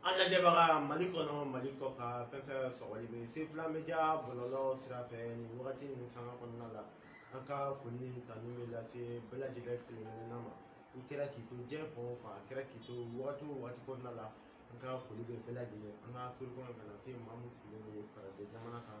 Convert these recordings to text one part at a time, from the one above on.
an lajɛbaga mali kɔnɔ mali kɔkan fɛn fɛn sɔgɔli bɛ se fila bɛ ja bɔlɔlɔ sira fɛ nin wagati nin sanga kɔnɔna la an ka foli ni tanu bɛ lase bɛɛ lajɛlen kelenkelenna ma i kɛra k'i to diɲɛ fan o fan a kɛra k'i to wagati o wagati kɔnɔna la an ka foli bɛ bɛɛ lajɛlen an ka afiriki kɔnɔ ka na se maa min sigilen bɛ farajɛ jamana kan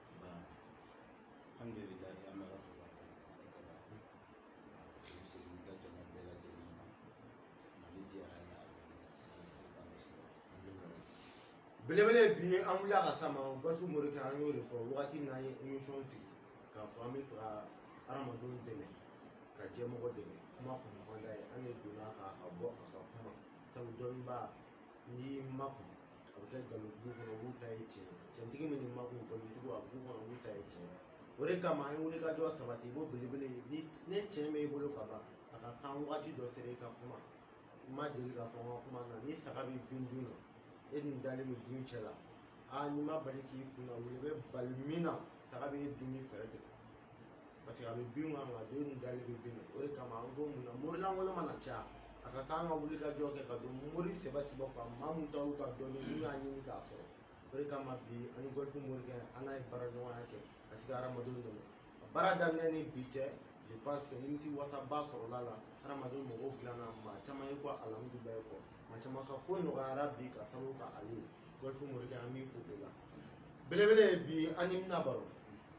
alhamdulillah an bɛ ala fo ka barikada i segin ka jama bɛɛ lajɛlen ma mali jɛra ni a ka misira belebele bi an wulila ka sama gɔlifu morikɛ an y'o de fɔ wagati min na an ye émission sigi k'a fɔ an bɛ fɛ ka hadamadenw dɛmɛ ka jɛmɔgɔ dɛmɛ kuma kɔni man d'a ye an de donna ka a bɔ a ka kuma sabu dɔnnibaa n'i makun a bɛ kɛ nkalontigiw kɔnɔ olu ta ye tiɲɛ tiɲɛtigi min nin makun nkalontigiw a b'u kɔnɔ olu ta ye tiɲɛ o de kama an ye wulikajɔ sabati i b'o belebele ye ni tiɲɛ bɛ i bolo ka ban a ka kan waati dɔ sera i ka kuma n ma deli k'a fɔ n ka kuma na ni saga bɛ bin dun na e dun dalen bɛ dumuni cɛ la aa n'i ma bali k'i kunna wuli i bɛ bali min na saga bɛ e dumuni fɛɛrɛ tigɛ paseke a bɛ bin kan ka dun e dalen bɛ bin na o de kama an ko mun na mori lankolon mana caya a ka kan ka wulikajɔ kɛ ka don mori sɛbɛ sɛbɛ kan maa min taara ka dɔnni n'u y'a ɲini k'a sɔrɔ o de kama bi an ni gɔlifu morikɛ an n'a ye baara ɲɔgɔnya kɛ ka se ka hadamadenw dɛmɛ a baara daminɛ ni bi cɛ je pense que nimisiwasaba sɔrɔla a la hadamadenw magow dilanna maa caman ye ko alhamdulilayi fɔ maa caman ka ko nɔgɔyara bi k'a sababu kɛ ale ye gɔlifu morikɛ an b'i fo o la belebele ye bi an n'i bɛna baro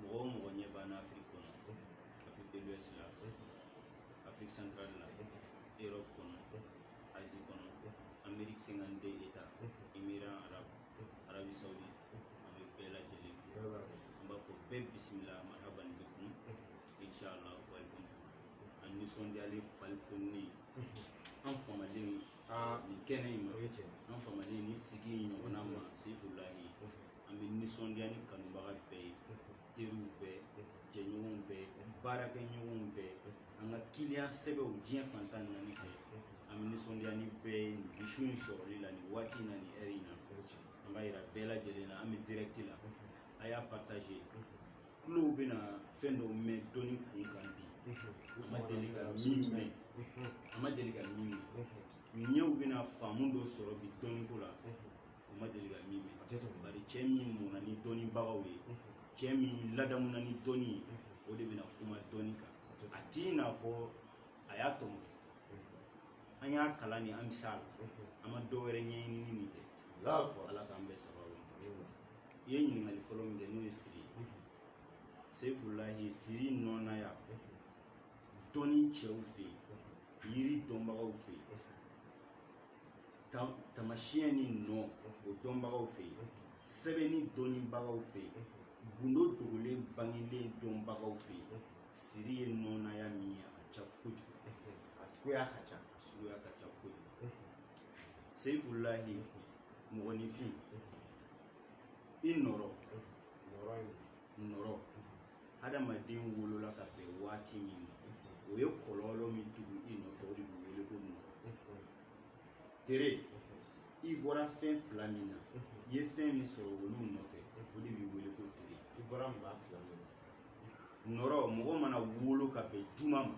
mɔgɔ o mɔgɔ ɲɛ b'an na afiriki kɔnɔ afrique de l'ouest la afrique centrale la europe kɔnɔ asie kɔnɔ amérique cinquante deux états émirats arabes arabie saoudite an bɛ bɛɛ lajɛlen fo an b'a fɔ bɛɛ bisimila marhaban bikum inchallah welcome to an nisɔndiyalen falifoninen an fama de nin kɛnɛ in ma an fama de nin sigi in ɲɔgɔnna ma seyifulahi an bɛ nisɔndiya ni kanubaga bɛɛ ye teriw bɛɛ jɛɲɔgɔnw bɛɛ baarakɛɲɔgɔnw bɛɛ an ka kiliyan sɛbɛw diɲɛ fan tan ni naani fɛ an bɛ nisɔndiya ni bɛɛ ye nin su in sɔrɔli la nin waati in na nin ɛri in na an b'a yira bɛɛ lajɛlen na an bɛ direct la a y'a partager tulow bɛna fɛn dɔw mɛn dɔnni kun kan bi u ma deli ka min mɛn a ma deli ka min mɛn ɲɛw bɛna faamu dɔ sɔrɔ bi dɔnniko la o ma deli ka min mɛn bari cɛ min mɔna ni dɔnnibagaw ye cɛ min ladamuna ni dɔnni ye o de bɛna kuma dɔnni kan a t'i n'a fɔ a y'a tɔmɔ an y'a kalan ni an bɛ s'a la an ma dɔ wɛrɛ ɲɛɲinini min kɛ ala k'an bɛɛ sababu ma i ye ɲininkali fɔlɔ min kɛ n'o ye siri ye sefulahi siri nɔnaya dɔnni cɛw fɛ yen yiri dɔnbagaw fɛ yen tamasiyɛn ni nɔ o dɔnbagaw fɛ yen sɛbɛnni dɔnnibagaw fɛ yen gundo dogolen bangelen dɔnbagaw fɛ yen siri ye nɔnaya min ye a ka ca kojugu a cogoya ka ca a suguya ka ca kojugu seyifulahi mɔgɔninfin i nɔrɔ nɔrɔ adamaden wolola ka bɛn waati min ma o ye kɔlɔlɔ min tugu i nɔfɛ o de bɛ wele ko nɔrɔ tere i bɔra fɛn fila min na i ye fɛn min sɔrɔ olu nɔfɛ o de bɛ wele ko tere i bɔra maa fila min na nɔrɔ mɔgɔ mana wolo ka bɛn juma ma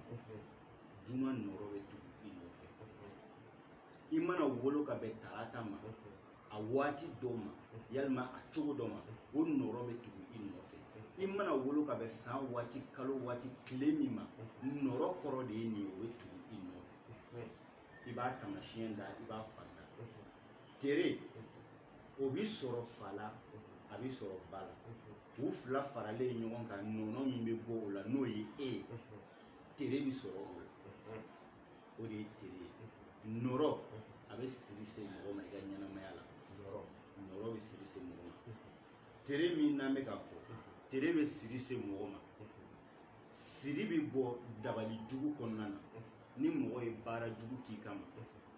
juma nɔrɔ bɛ tugu i nɔfɛ i mana wolo ka bɛn tarata ma a waati dɔ ma yalima a cogo dɔ ma o nɔrɔ bɛ tugu i nɔfɛ i mana wolo ka bɛn san waati kalo waati tile min ma nɔrɔ kɔrɔ de ye nin ye o bɛ tugu i nɔfɛ i b'a tamasiyɛn da i b'a fa da tere o bi sɔrɔ fa la a bi sɔrɔ ba la u fila faralen ɲɔgɔn kan nɔnɔ min bɛ bɔ o la n'o ye e ye tere bi sɔrɔ o la o de ye tere ye nɔrɔ a bɛ siri se mɔgɔ ma i ka ɲɛnamaya la nɔrɔ bɛ siri se mɔgɔ ma tere min n'an bɛ k'a fɔ tere bɛ siri se mɔgɔ ma siri bɛ bɔ dabali jugu kɔnɔna na ni mɔgɔ ye baara jugu k'i kama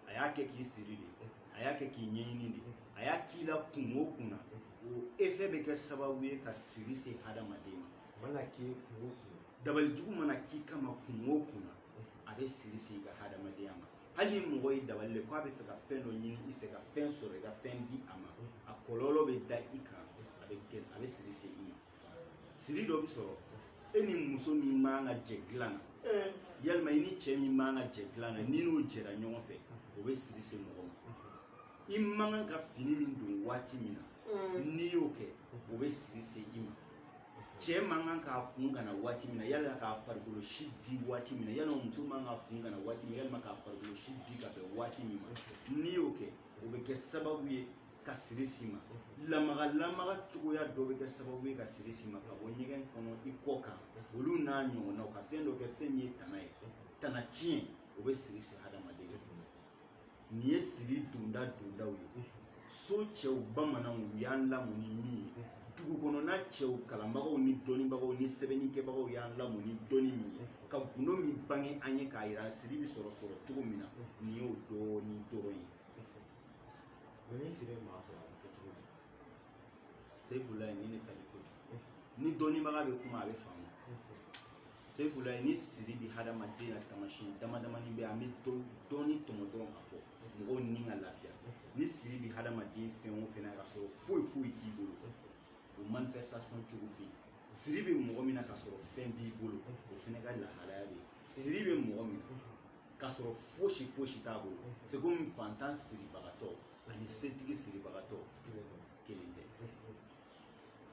a y'a kɛ k'i siri de a y'a kɛ k'i ɲɛɲini de a y'a k'i la kun o kun na o efɛ bɛ kɛ sababu ye ka siri se hadamaden ma mana k'i kun o kun dabali jugu mana k'i kama kun o kun na a bɛ siri se i ka hadamadenya ma hali ni mɔgɔ ye dabali le ko a bɛ fɛ ka fɛn dɔ ɲini i fɛ ka fɛn sɔrɔ i ka fɛn di a ma a kɔlɔlɔ bɛ da i kan a bɛ siri se i ma siri dɔ bɛ sɔrɔ e ni muso min man ka jɛ dilan na eh. yalima i ni cɛ min man ka jɛ dilan na n'i n'o jɛra ɲɔgɔn fɛ o bɛ siri se mɔgɔ ma i man kan ka fini min don waati min na eh. n'i y'o kɛ o bɛ siri se i ma cɛ man kan k'a kun kana waati min na yalima k'a farikolo si di waati min na yalima muso man ka kun kana waati min yalima k'a farikolo si di ka bɛn waati min ma n'i y'o kɛ o bɛ kɛ sababu ye ka siri s'i ma lamaga lamaga cogoya dɔ bɛ kɛ sababu ye ka siri s'i ma ka bɔ ɲɛgɛn kɔnɔ i kɔ kan olu n'a ɲɔgɔnnaw ka fɛn dɔ kɛ fɛn min ye tana ye tana tiɲɛ o bɛ siri s'i hadamaden nin ye siri donda dondaw ye so cɛw bamananw u y'an lamɔ ni min ye dugu kɔnɔna cɛw kalanbagaw ni dɔnnibagaw ni sɛbɛnnikɛbagaw y'an lamɔ ni dɔnni min ye ka gundo min bange an ye k'a yira siri bɛ sɔrɔ sɔrɔ cogo min na nin y'o dɔɔni dɔrɔn ye ni siri maa sɔrɔ a bɛ kɛ cogo di seyifulayi ni ne ka di kojugu ni dɔnnibaga bɛ kuma a bɛ faamu seyifulayi ni siri bɛ hadamaden na tamasiyɛn damadamani bɛ an bɛ dɔɔni tɔmɔ dɔrɔn ka fɔ mɔgɔw ni ka lafiya ni siri bɛ hadamaden fɛn o fɛn na ka sɔrɔ foyi foyi t'i bolo o manifestation cogo bɛ yen siri bɛ mɔgɔ min na ka sɔrɔ fɛn b'i bolo o fana ka lahalaya bɛ yen siri bɛ mɔgɔ min na ka sɔrɔ fosi fosi t'a bolo c'est comme fantan siribagatɔ ani setigi siribagatɔ kelen tɛ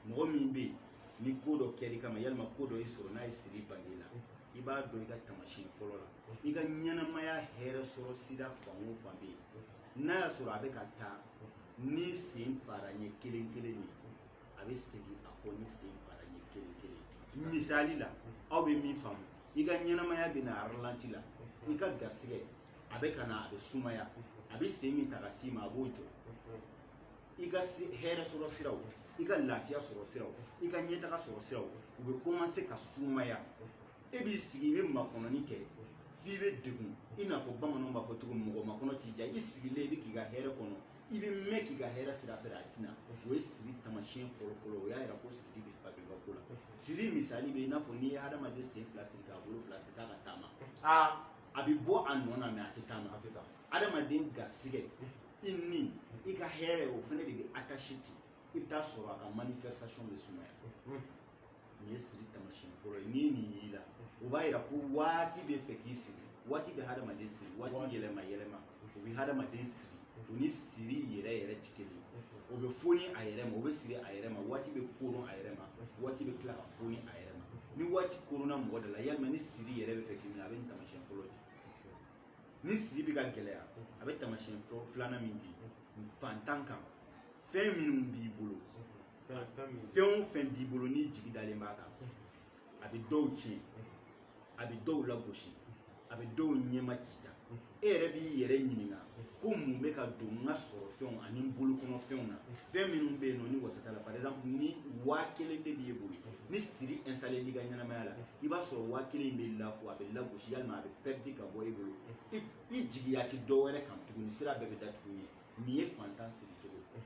mɔgɔ min bɛ yen ni ko dɔ kɛr'i kama yalima ko dɔ y'i sɔrɔ n'a ye siri bali la i b'a dɔn i ka tamasiyɛn fɔlɔ la i ka ɲɛnamaya hɛrɛ sɔrɔ sira fan o fan bɛ yen n'a y'a sɔrɔ a bɛ ka taa ni sen para ɲɛ kelen kelen de ye a bɛ segin a kɔ ni sen para ɲɛ kelen kelen misali la aw bɛ min faamu i ka ɲɛnamaya bɛ na ralenti la i ka garisɛgɛ a bɛ ka na a bɛ sumaya a bɛ sen min ta ka s'i ma a b'o jɔ i ka hɛrɛ sɔrɔ siraw i ka lafiya sɔrɔ siraw i ka ɲɛtaga sɔrɔ siraw u bɛ commencer ka sumaya e b'i sigi i bɛ makɔnɔni kɛ f'i bɛ degun i n'a fɔ bamananw b'a fɔ cogo min mɔgɔ makɔnɔ t'i diya i sigilen i bɛ k'i ka hɛrɛ kɔnɔ i bɛ mɛɛn k'i ka hɛrɛ sira filɛ a tɛ na o ye siri tamasiyɛn fɔlɔfɔlɔ o y'a yira ko siri bɛ fabriquer ko la siri misali bɛ i n'a fɔ n'i ye hadamaden sen fila siri k'a bolo fila siri k'a ka taama aa a bɛ bɔ a nɔ na mais a tɛ taama hadamaden garisɛgɛ i ni i ka hɛrɛ o fana de bɛ attaché ten i bɛ taa sɔrɔ a ka manifestation bɛ sumaya nin ye siri tamasiyɛn fɔlɔ ye ni nin y'i la o b'a yira ko waati bɛ fɛ k'i siri waati bɛ hadamaden siri waati yɛlɛma yɛlɛma o bɛ hadamaden siri o ni siri yɛrɛ yɛrɛ tɛ kelen ye o bɛ foni a yɛrɛ ma o bɛ siri a yɛrɛ ma waati bɛ koron a yɛrɛ ma waati bɛ tila ka foni a yɛrɛ ma ni waati koronna mɔgɔ de la yalima ni siri yɛrɛ bɛ fɛ k'i minɛ a bɛ nin tamasiyɛn fɔlɔ di ni siri bɛ ka gɛlɛya a bɛ tamasiyɛn filanan min di fantan kan fɛn minnu b'i bolo fɛn o fɛn b'i bolo n'i jigi dalen b'a kan a bɛ dɔw tiɲɛ a bɛ dɔw lagosi a bɛ dɔw ɲɛma ci ta e yɛrɛ b'i yɛrɛ ɲininka ko mun bɛ ka don n ka sɔrɔ fɛnw ani n bolokɔnɔ fɛnw na fɛn minnu bɛ yen nɔ ni wasa t'a la par exemple ni waa kelen de b'i bolo ni siri installé l'i ka ɲɛnamaya la i b'a sɔrɔ waa kelen in bɛ lafu a bɛ lagosi yalima a bɛ perdre ka bɔ i bolo i jigiya tɛ dɔ wɛrɛ kan tuguni sira bɛɛ bɛ datugu i ɲɛ nin ye fantan siri cogo ye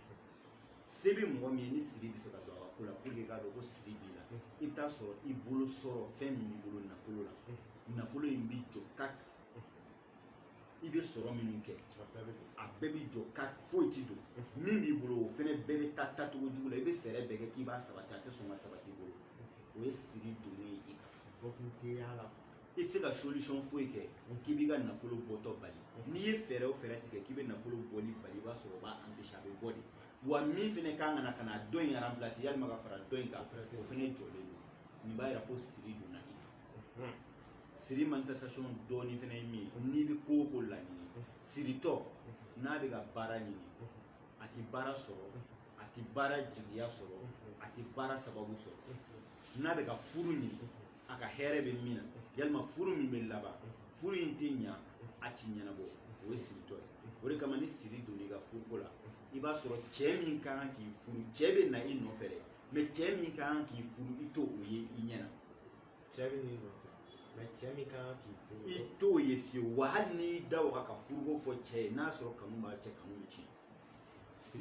se bɛ mɔgɔ min ye ni siri bɛ fɛ ka don a ka ko la pour que i k'a dɔn ko siri b'i la i bɛ taa sɔrɔ i bolo sɔrɔ fɛn min b'i bolo nafolo la nafolo in b'i jɔ kaki i bɛ sɔrɔ minnu kɛ a bɛɛ bɛ jɔ ka foyi ti don min b'i bolo o fɛnɛ bɛɛ bɛ taa taacogo jugu la i bɛ fɛɛrɛ bɛɛ kɛ k'i b'a sabati a tɛ sɔn ka sabati i bolo o ye siri donnen ye i kan bɔkun tɛ y'a la i tɛ se ka solution foyi kɛ k'i b'i ka nafolo bɔtɔ bali n'i ye fɛɛrɛ o fɛɛrɛ tigɛ k'i bɛ nafolo bɔli bali i b'a sɔrɔ o b'a empêcher a bɛ bɔ de wa min fɛnɛ kan ka na ka na dɔ in remplacer yalima ka fara dɔ in kan o fɛnɛ jɔlen don nin b'a yira ko siri donna i kan. siri manifestation dɔɔni fana ye min ye n'i bɛ ko o ko laɲini siritɔ n'a bɛ ka baara ɲini a tɛ baara sɔrɔ a tɛ baara jigiya sɔrɔ a tɛ baara sababu sɔrɔ n'a bɛ ka furu ɲini a ka hɛrɛ bɛ min na yalima furu min bɛ laban furu in tɛ ɲa a tɛ ɲɛnabɔ o ye siritɔ ye o de kama ni siri donna i ka furuko la i b'a sɔrɔ cɛ min ka kan k'i furu cɛ bɛ na i nɔfɛ dɛ mais cɛ min ka kan k'i furu i t'o ye i ɲɛ na cɛ bɛ n'i nɔfɛ mais cɛ min ka kan k'i furu i t'o ye fiyewu wa hali n'i y'i da o kan ka furuko fɔ cɛ ye n'a sɔrɔ kanu b'a cɛ kanu bɛ tiɲɛ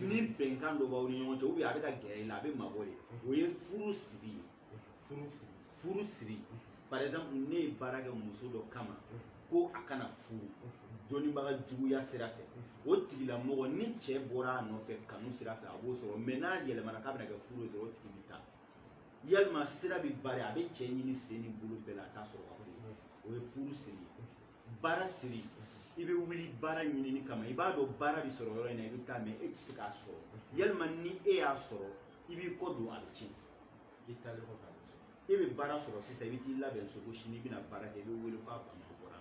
ni bɛnkan dɔ b'aw ni ɲɔgɔn cɛ ou bien a bɛ ka gɛrɛ i la a bɛ mabɔ de o ye furu siri ye furu siri furu siri par exemple ne ye baara kɛ muso dɔ kama ko a kana furu dɔnnibaga juguya sira fɛ o tigilamɔgɔ ni cɛ bɔra a nɔfɛ kanu sira fɛ a b'o sɔrɔ mais n'a yɛlɛmana k'a bɛna kɛ furu ye dɔrɔn o tigi bɛ taa yalima sira bɛ bari a bɛ cɛ ɲini sen ni bolo bɛɛ la a t'a sɔrɔ ka furu o ye furu siri ye baara siri i bɛ wuli baara ɲinini kama i b'a dɔn baara bɛ sɔrɔ yɔrɔ in na i bɛ taa mais e tɛ se k'a sɔrɔ yalima ni e y'a sɔrɔ i b'i kɔ don a bɛ tiɲɛ i taalen kɔfɛ a bɛ tiɲɛ e bɛ baara sɔrɔ sisan i bɛ t'i labɛn so ko sini i bɛna baara kɛ i bɛ wele k'a bana bɔra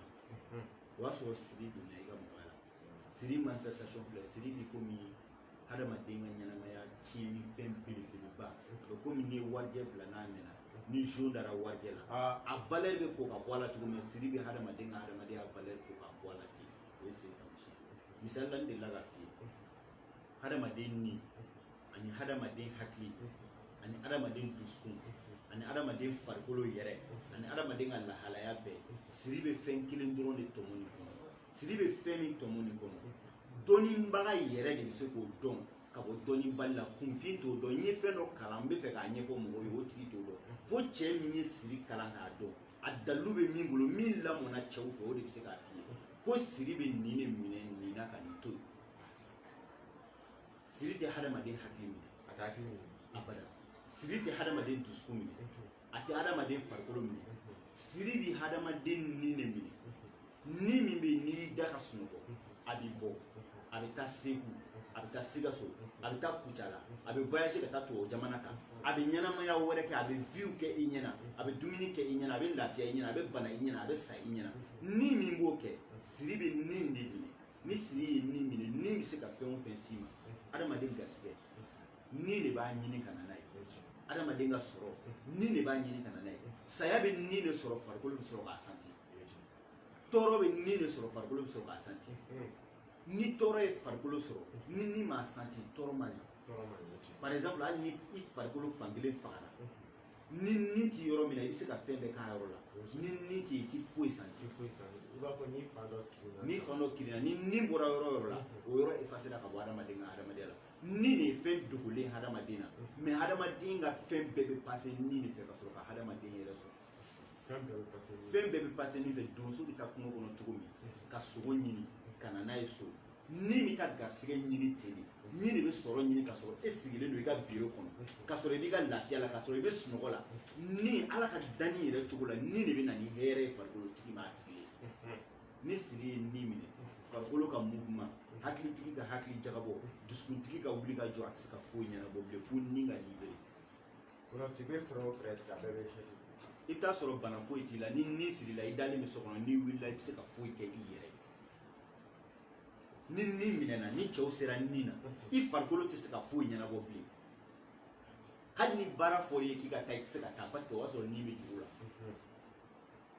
o y'a sɔrɔ siri donna i ka mɔgɔ siri manifestation filɛ siri bi komi hadamaden ka ɲɛnamaya tiɲɛni fɛn belebeleba o bɛ komi n'i ye warijɛ bila n'a mɛnna ni zon dara warijɛ la a valeur bɛ ko ka bɔ a la cogo min na siri bɛ hadamaden ka hadamadenya valeur ko ka bɔ a la ten o ye siri taamasiyɛn misali la n delila ka f'i ye hadamaden ni ani hadamaden hakili ani hadamaden dusukun ani hadamaden farikolo yɛrɛ ani hadamaden ka lahalaya bɛɛ siri bɛ fɛn kelen dɔrɔn de tɔmɔ nin kɔnɔ siri bɛ fɛn min tɔmɔ nin kɔnɔ dɔnnibaga yɛrɛ de bɛ se k'o dɔn ka bɔ dɔnnibali la kunfin t'o dɔn n ye fɛn dɔ kalan n bɛ fɛ k'a ɲɛfɔ mɔgɔw ye o tigi t'o dɔn fo cɛ min ye siri kalan k'a dɔn a dalilu bɛ min bolo min lamɔna cɛw fɛ o de bɛ se k'a f'i ye ko siri bɛ nin de minɛ nin na ka nin to yen siri tɛ hadamaden hakili minɛ a t'a hakili minɛ abada siri tɛ hadamaden dusukun minɛ a tɛ hadamaden farikolo minɛ siri bɛ hadamaden ni de minɛ ni min bɛ n'i y'i da ka sunɔgɔ a bɛ bɔ a bɛ taa segu a bɛ taa sikaso a bɛ taa kucala a bɛ voyage ka taa tubabu jamana kan a bɛ ɲɛnamaya wɛrɛ kɛ a bɛ view kɛ i ɲɛna a bɛ dumuni kɛ i ɲɛna a bɛ lafiya i ɲɛna a bɛ bana i ɲɛna a bɛ sa i ɲɛna ni min b'o kɛ siri bɛ ni de minɛ ni siri ye ni minɛ ni bɛ se ka fɛn o fɛn s'i ma adamaden garisigɛ ni de b'a ɲini ka na n'a ye adamaden ka sɔrɔ ni de b'a ɲini ka na n'a ye saya bɛ ni de sɔrɔ farikolo bɛ sɔrɔ k'a santi tɔɔrɔ bɛ ni de sɔrɔ farikolo bɛ sɔrɔ k'a santi ni tɔɔrɔ ye farikolo sɔrɔ ni ni m'a santi tɔɔrɔ man ɲi par exemple hali ni i farikolo fan kelen fagara ni ni t'i yɔrɔ min na i bɛ se ka fɛn bɛɛ k'a yɔrɔ la ni ni tɛ yen i tɛ foyi santi i b'a fɔ ni fan dɔ kirinna ni fan dɔ kirinna ni ni bɔra yɔrɔ o yɔrɔ la o yɔrɔ efasera ka bɔ adamaden ka adamadenya la ni de ye fɛn dogolen hadamaden na mɛ hadamaden ka fɛn bɛɛ bɛ pase ni de fɛ ka sɔrɔ ka hadamaden yɛrɛ sɔrɔ fɛn bɛɛ bɛ pase ni fɛ donso bɛ taa kungo kɔnɔ cogo min ka sogo ɲini ka na n'a ye so ni bɛ taa garisɛgɛ ɲini ten de ni de bɛ sɔrɔ ɲini ka sɔrɔ e sigilen don i ka biro kɔnɔ ka sɔrɔ i b'i ka lafiya la ka sɔrɔ i bɛ sunɔgɔ la ni ala ka danni yɛrɛ cogo la ni de bɛ na ni hɛrɛ ye farikolo tigi ma a sigilen ni siri ye ni minɛ farikolo ka mouvement hakilitigi ka hakili jagabɔ dusukuntigi ka wuli ka jɔ a tɛ se ka foyi ɲɛnabɔ bilen fo ni ka libere i bɛ fɛɛrɛ o fɛɛrɛ tigɛ a bɛɛ bɛ échec i bɛ t'a sɔrɔ bana foyi t'i la ni ni sirila i dalen bɛ so kɔnɔ n'i wulila i tɛ se ka foyi kɛ i yɛrɛ ye ni ni minɛna ni cɛw sera ni na i farikolo tɛ se ka foyi ɲɛnabɔ bilen hali ni baara fɔr'i ye k'i ka taa i tɛ se ka taa parce que o y'a sɔrɔ ni bɛ juru la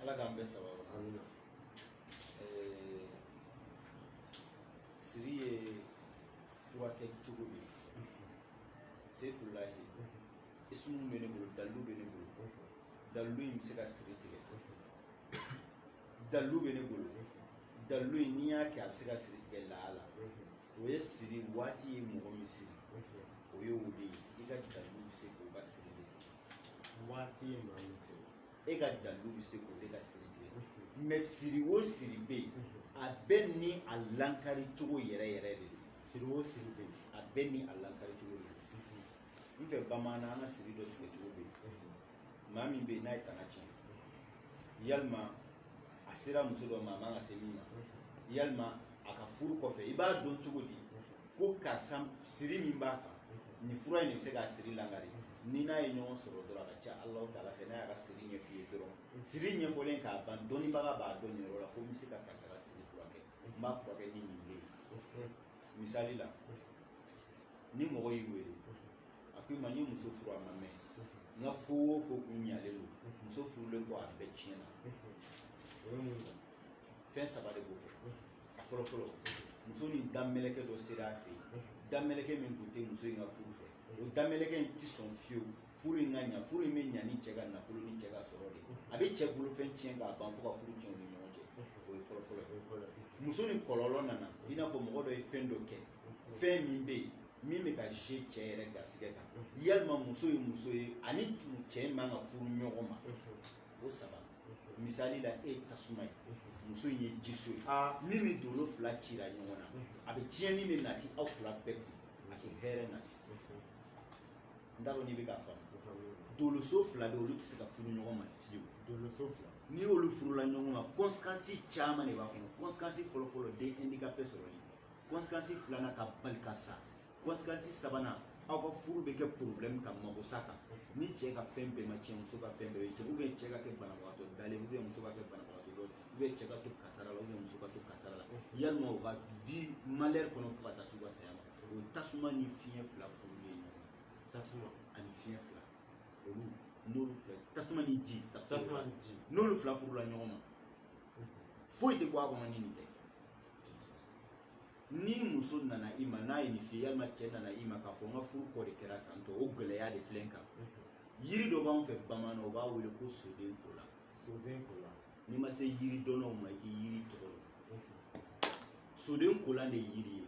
ala k'an bɛɛ sababu amina eh, siri ye furakɛ cogo de ye sefulahi isumu bɛ ne bolo dalilu bɛ ne bolo dalilu in bɛ se ka siri tigɛ dalilu bɛ ne bolo dalilu in n'i y'a kɛ a bɛ se ka siri tigɛ lahala o ye siri waati ye mɔgɔ min siri o ye o de ye i ka dalilu bɛ se k'o ka siri de tigɛ waati ye maa min siri e ka dalilu bɛ se k'o de ka siri tigɛ mɛ siri o siri bɛ yen a bɛɛ ni a lankari cogo yɛrɛ yɛrɛ de don siri o siri bɛ yen a bɛɛ ni a lankari cogo de don n fɛ bamanan an ka siri dɔ tigɛ cogo bɛ yen maa min bɛ yen n'a ye tana tiɲɛ yalima a sera muso dɔ ma a man ka se min ma yalima a ka furu kɔfɛ i b'a dɔn cogo di ko karisa siri min b'a kan nin fura in de bɛ se k'a siri langari n'i n'a ye ɲɔgɔn sɔrɔ dɔrɔn a ka ca alahu taala fɛ n'a y'a ka siri ɲɛf'i ye dɔrɔn siri ɲɛfɔlen ka ban dɔnnibaga b'a dɔn nin yɔrɔ la ko n bɛ se ka karisa ka siri furakɛ n b'a furakɛ ni nin de ye misali la ni mɔgɔ y'i wele a ko i ma n ye muso furu a ma mɛɛn n ka ko o ko kun ɲalen don muso furulen kɔ a bɛɛ tiɲɛna o ye mun ye fɛn saba de b'o kɛ a fɔlɔ fɔlɔ muso ni damɛlɛkɛ dɔ sera a fɛ yen damɛlɛkɛ min tun tɛ muso in ka furu fɛ o damɛlɛkɛ in tɛ sɔn fiyewu furu in ka ɲa furu in bɛ ɲa ni cɛ ka nafolo ni cɛ ka sɔrɔ de a bɛ cɛ bolofɛn tiɲɛ k'a ban fo ka furu tiɲɛ u ni ɲɔgɔn cɛ o ye fɔlɔ fɔlɔ ye muso ni kɔlɔlɔ nana i n'a fɔ mɔgɔ dɔ ye fɛn dɔ kɛ fɛn min bɛ yen min bɛ ka ze cɛ yɛrɛ garisɛgɛ kan yalima muso ye muso ye ani cɛ man ka furu ɲɔgɔn ma o saba misali la e ye tasuma ye muso in ye jiso ye min ni dolo fila cira ɲɔgɔn na a bɛ tiɲɛni de nati aw fila bɛɛ kun a tɛ hɛrɛ nati n t'a dɔn n'i bɛ k'a faamu doloso fila bɛ olu tɛ se ka furu ɲɔgɔn ma fiyewu doloso fila n'i y'olu furula ɲɔgɔn ma kɔnsikansi caman de b'a kɔnɔ kɔnsikansi fɔlɔfɔlɔ den ɛndikape sɔrɔli kɔnsikansi filanan ka bali ka sa kɔnsikansi sabanan aw ka furu bɛ kɛ porobilɛmu ka mago sa kan ni cɛ ka fɛn bɛɛ ma tiɲɛ muso ka fɛn bɛɛ bɛ tiɲɛ ubiyɛn cɛ ka kɛ banabagatɔ dalen ubiyɛn muso ka kɛ banabagatɔ dɔ ubiyɛn cɛ ka to kasara la ubiyɛn muso ka to kasara la yalima u ka vi malɛri kɔnɔ fo ka taa s'u ka saya ma o tasuma ni fiɲɛ fila furulen ɲɔgɔn tasuma ani fiɲɛ fila olu n'olu fila tasuma ni ji tasuma ni ji n'olu fila furula ɲɔgɔn ma foyi tɛ bɔ a kɔnɔ ni nin tɛ ni muso nana i ma n'a ye nin f'i ye yalima cɛ nana i ma k'a fɔ n ka furu kɔ de kɛra tan tɔ o gɛlɛya de filɛ n kan yiri dɔ b'an fɛ bamanan o b'a wele ko soden kola soden kola n'i ma se yiri dɔnnaw ma i tɛ yiri tɔgɔ dɔn soden kolan de ye yiri ye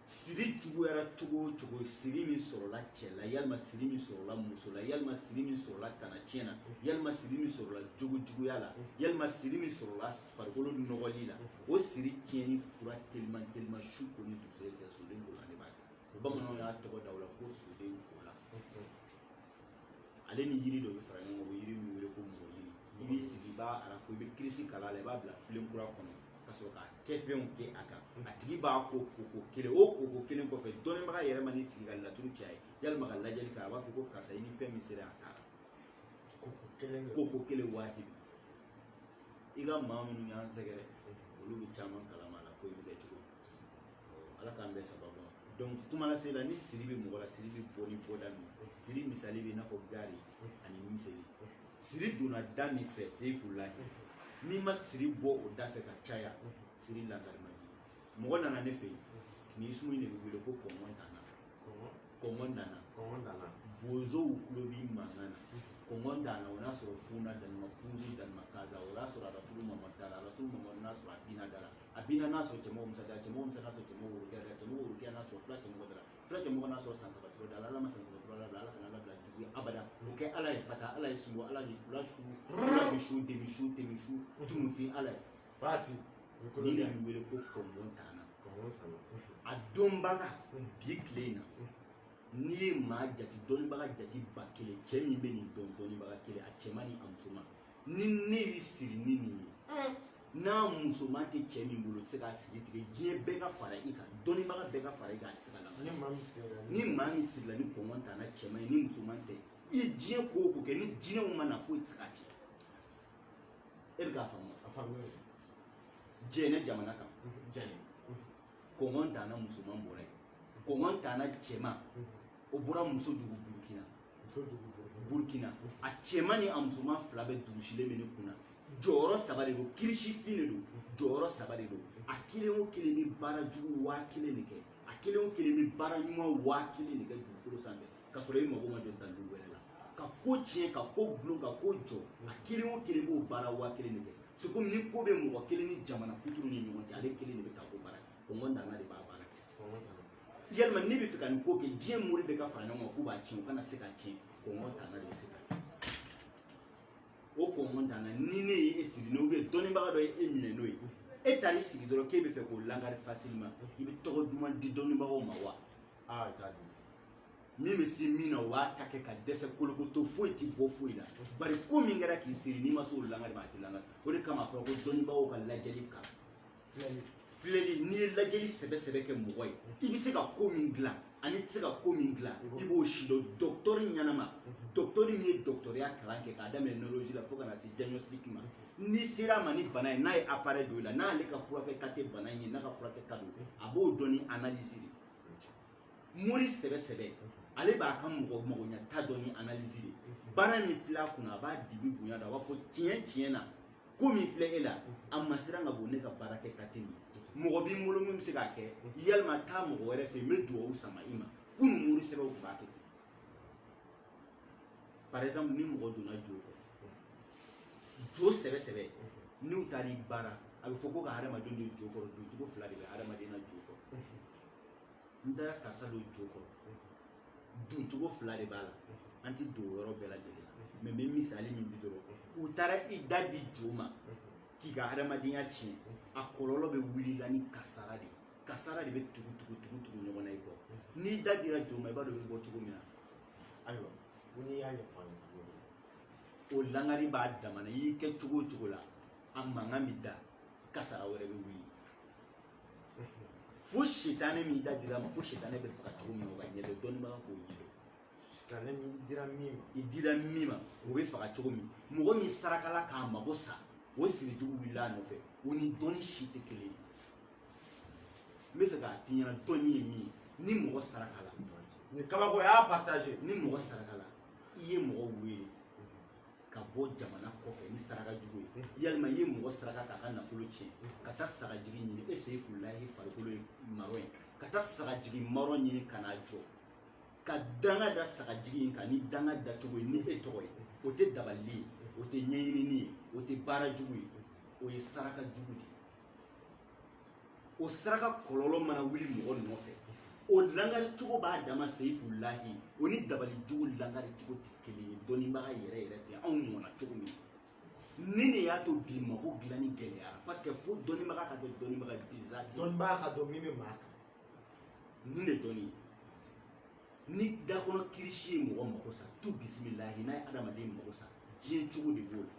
siri juguyara cogo o cogo siri min sɔrɔla cɛ la yalima siri min sɔrɔla muso la yalima siri min sɔrɔla tanatiɲɛ na yalima siri min sɔrɔla jogo juguya la yalima siri min sɔrɔla farikolo nɔgɔli la o siri tiɲɛni fura teliman teliman su ko ni dugusɛjɛ cɛ soden kolan de b'a kɛ bamananw y'a tɔgɔ da o la ko soden kolan ale ni yiri dɔ bɛ fara ɲɔgɔn kan o yiri min wele ko mɔgɔ yiri i b'i sigi i b'a arafo i bɛ kirisi kalan a la i b'a bila filen kura kɔnɔ ka sɔrɔ ka kɛfɛnw kɛ a kan a tigi b'a ko koko kelen o koko kelen kɔfɛ dɔnnibaga yɛrɛ man'i sigi ka laturu ci a ye yalima ka lajɛli kɛ a b'a fɔ ko karisa i ni fɛn min sera a taara koko kelen koko kelen wajibi i ka maa minnu y'an sɛgɛrɛ olu b'a caman kalama a la ko in bɛ kɛ cogo min ala k'an bɛɛ sababu ma donc kuma lase la ni siri bɛ mɔgɔ la siri bɛ bɔ ni bɔda min siri misali bɛ i n'a fɔ gaari ani miseli siri donna da min fɛ seyifu lahi n'i ma siri bɔ o da fɛ ka caya siri lankari man di mɔgɔ nana ne fɛ yen nin sumu in de bɛ wele ko kɔngɔn dana kɔngɔn dana bozow tulo b'i mankan na kɔngɔn dana o n'a sɔrɔ funa danima kuzu danima kaza o n'a sɔrɔ a ka furu mama dara a ka furu mama n'a sɔrɔ a bina dara a bina n'a sɔrɔ cɛmɔgɔ musa dara cɛmɔgɔ musa n'a sɔrɔ cɛmɔgɔ worokɛ dara cɛmɔgɔ worokɛ n'a sɔrɔ fila cɛmɔgɔ dara fila cɛmɔgɔ n'a sɔrɔ san saba tɔrɔ da ala ma san saba tɔrɔ da ala kana ala bila jugu ye abada o kɛ ala ye fata ala ye sunbo ala ni kula su ala bi su demi su demi su tunufin ala ye fati ni de bi wele ko kɔngɔ tana a dɔnbaga bi tile in na n'i ye maa jate dɔnnibaga jate ba kelen cɛ min bɛ nin dɔn dɔnnibaga kelen a cɛman ni a musoman ni ne y'i siri ni nin ye hmm. n'a musoman tɛ cɛ min bolo tɛ se k'a siri tigɛ diɲɛ bɛɛ ka fara i kan dɔnnibaga bɛɛ ka fara i kan a tɛ se ka la ni maa min sirila ni kɔngɔ tana cɛman ye ni musoman tɛ i ye diɲɛ ko o ko kɛ ni jinɛw ma na foyi tɛ se k'a tiɲɛ e bɛ k'a faamu a faamu jɛnɛ jamana kan jɛnɛ kɔngɔ tana musoman bɔra yen kɔngɔ tana cɛman o bɔra muso dugu burukina burkina a cɛman ni a musoman fila bɛɛ durusilen bɛ ne kun na jɔyɔrɔ saba de don kirisifin de don jɔyɔrɔ saba de don a kelen o kelen bɛ baara jugu waa kelen de kɛ a kelen o kelen bɛ baara ɲuman waa kelen de kɛ dugukolo sanfɛ ka sɔrɔ i mago ma jɔ dalu wɛrɛ la ka ko tiɲɛ ka ko dulon ka ko jɔ a kelen o kelen b'o baara waa kelen de kɛ c'est comme ni ko bɛ mɔgɔ kelen ni jamana kuturu ni ɲɔgɔn cɛ ale kelen de bɛ taa ko baara kɛ kɔngɔ tana de b'a baara kɛ yalima ne bɛ fɛ ka nin ko kɛ diɲɛ mori bɛɛ ka fara ɲɔgɔn kan k'u b'a tiɲɛ u kana se k'a tiɲɛ kɔngɔ tana de bɛ se k'a kɛ o kɔngɔ tana ni ne ye e siri n'o ye dɔnnibaga dɔ ye e minɛ n'o ye e taara i sigi dɔrɔn k'e bɛ fɛ k'o lankari facilement i bɛ tɔgɔ duman di dɔnnibagaw ma wa aa i t'a di min bɛ se min na o b'a ta kɛ ka dɛsɛ kolokoto foyi tɛ bɔ foyi la bari ko min kɛra k'i siri n'i ma se o lankari ma a tɛ lankari o de kama a fɔra ko dɔnnibagaw ka lajɛli kan filɛli n'i ye lajɛli sɛbɛ sɛbɛ kɛ mɔgɔ ye i bɛ se ka ko min dilan ani i tɛ se ka ko min dilan i b'o sidɔn dɔkitɔri ɲɛnama dɔkitɔri min ye dɔkitɔriya kalan kɛ k'a daminɛ neurologie la fo ka na se diagnostic ma n'i sera a ma ni bana ye n'a ye appareil don i la n'ale ka furakɛta tɛ bana in ye n'a ka furakɛta don a b'o dɔn ni analyse de mori sɛbɛ sɛbɛ ale b'a ka mɔgɔ magoɲata dɔn ni analyse de baara min filɛ a kunna a b'a dibi bonya dɔn a b'a fɔ tiɲɛ tiɲɛ na ko min filɛ e la a masiran ka bon ne ka baara kɛta tɛ mɔgɔ bi n bolo min bɛ se k'a kɛ yalima taa mɔgɔ wɛrɛ fɛ yen n bɛ dugawu sama i ma kunun mori sɛbɛw tun b'a kɛ ten par exemple ni mɔgɔ donna jo kɔrɔ jo sɛbɛ sɛbɛ n'u taara i baara a bɛ fɔ ko ka hadamaden don jo kɔrɔ doncogo fila de bɛ hadamaden na jo kɔrɔ n taara karisa don jo kɔrɔ doncogo fila de b'a la an ti don yɔrɔ bɛɛ lajɛlen na mais n bɛ misali min di dɔrɔn u taara i da di jo ma k'i ka hadamadenya tiɲɛ a kɔlɔlɔ bɛ wuli la ni kasara de ye kasara de bɛ tugu tugu tugu tugu ɲɔgɔn na i kɔ n'i da dira jo ma i b'a dɔn i bɛ bɔ cogo min na ayiwa ko n'i y'a ɲɛfɔ an ye o langari b'a dama na i y'i kɛ cogo o cogo la a mankan bɛ da kasara wɛrɛ bɛ wuli fo sitanɛ min i da dir'a ma fo sitanɛ bɛ faga cogo min o ka ɲɛdɔn dɔnnibaga k'o ɲɛdɔn sitanɛ min dira min ma i dira min ma o bɛ faga cogo min mɔgɔ min sarakala k'a mago sa o sirijugu wulila a nɔfɛ o ni dɔnni si tɛ kelen ye n b'a fɛ k'a f'i ɲɛna dɔnni ye min ye ni mɔgɔ sarakala ni kabako y'a partage ni mɔgɔ sarakala i ye mɔgɔ wele ka bɔ jamana kɔfɛ ni saraka jugu ye yalima i ye mɔgɔ saraka k'a ka nafolo tiɲɛ ka taa sagajigi ɲini e seyifulahi farikolo ye marron ye ka taa sagajigi marron ɲini ka n'a jɔ ka danga da sagajigi in kan ni danga dacogo ye ni e tɔgɔ ye o tɛ dabali ye o tɛ ɲɛɲinini ye o tɛ baara jugu ye o ye saraka jugu de ye o saraka kɔlɔlɔ mana wuli mɔgɔ nɔfɛ o langari cogo b'a dama seyifulahi o ni dabali jugu langari cogo tɛ kelen ye dɔnnibaga yɛrɛ yɛrɛ fɛ anw mɔna cogo min nin de y'a to bi mako dilanni gɛlɛyara parce que fo dɔnnibaga ka kɛ dɔnnibaga ye biza tɛ dɔnnibaga k'a dɔn min bɛ maa kan nin de dɔnni ye ni dakɔnɔ kirisi ye mɔgɔ mako sa tu bisimilahi n'a ye adamaden mako sa diɲɛ cogo de b'o la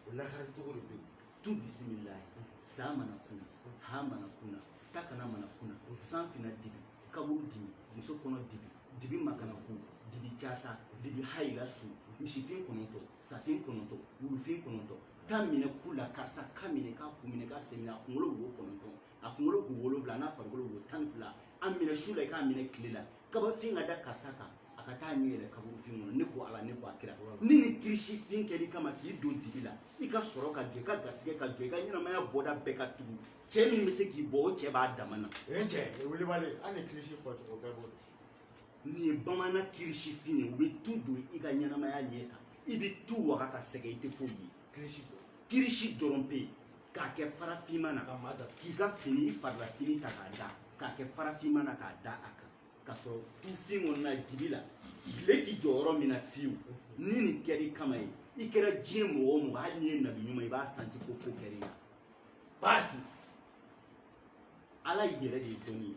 o lakari cogo de bɛ yen tu bisimilayi san mana kuna ha mana kuna ta kana mana kuna san fina dibi kaburu dibi muso kɔnɔ dibi dibi makanaku dibi casa dibi hayila su misifin kɔnɔntɔ safin kɔnɔntɔ wulufin kɔnɔntɔ ta minɛ ku la karisa ka minɛ ka kun minɛ ka sen minɛ a kunkolo wo kɔnɔntɔn a kunkolo wo wolonwula n'a farikolo wo tan ni fila a minɛ su la i k'a minɛ tile la kabafin ka da karisa kan a ka taa ɲɛ yɛrɛ kaburufin kɔnɔ ne ko ala ne ko a kira ni ni kirisi fin kɛr'i kama k'i don dibi la i ka sɔrɔ ka jɔ i ka garisɛgɛ ka jɔ i ka ɲɛnamaya bɔda bɛɛ ka tugu cɛ min bɛ se k'i bɔ o cɛ b'a dama na o ye cɛ o ye welewale hali ni kirisi fɔcogo bɛɛ b'o dɔn nin ye bamanan kirisifin ye u bɛ tu don i ka ɲɛnamaya ɲɛ kan i bɛ tu waga ka sɛgɛn i tɛ foyi ye kirisi dɔrɔn kirisi dɔrɔn bɛ yen k'a kɛ fara finman na ka maa da k'i ka fini farila fini ta k'a da k'a kɛ fara finman na k'a da a kan ka sɔrɔ tufin kɔnɔna dibi la tile ti jɔ yɔrɔ min na fiyewu ni nin kɛr'i kama ye i kɛra diɲɛ mɔgɔ o mɔgɔ hali n'i ye nabi ɲuman i b'a santi ko ko kɛr'i la baati ala yɛrɛ de ye dɔnni ye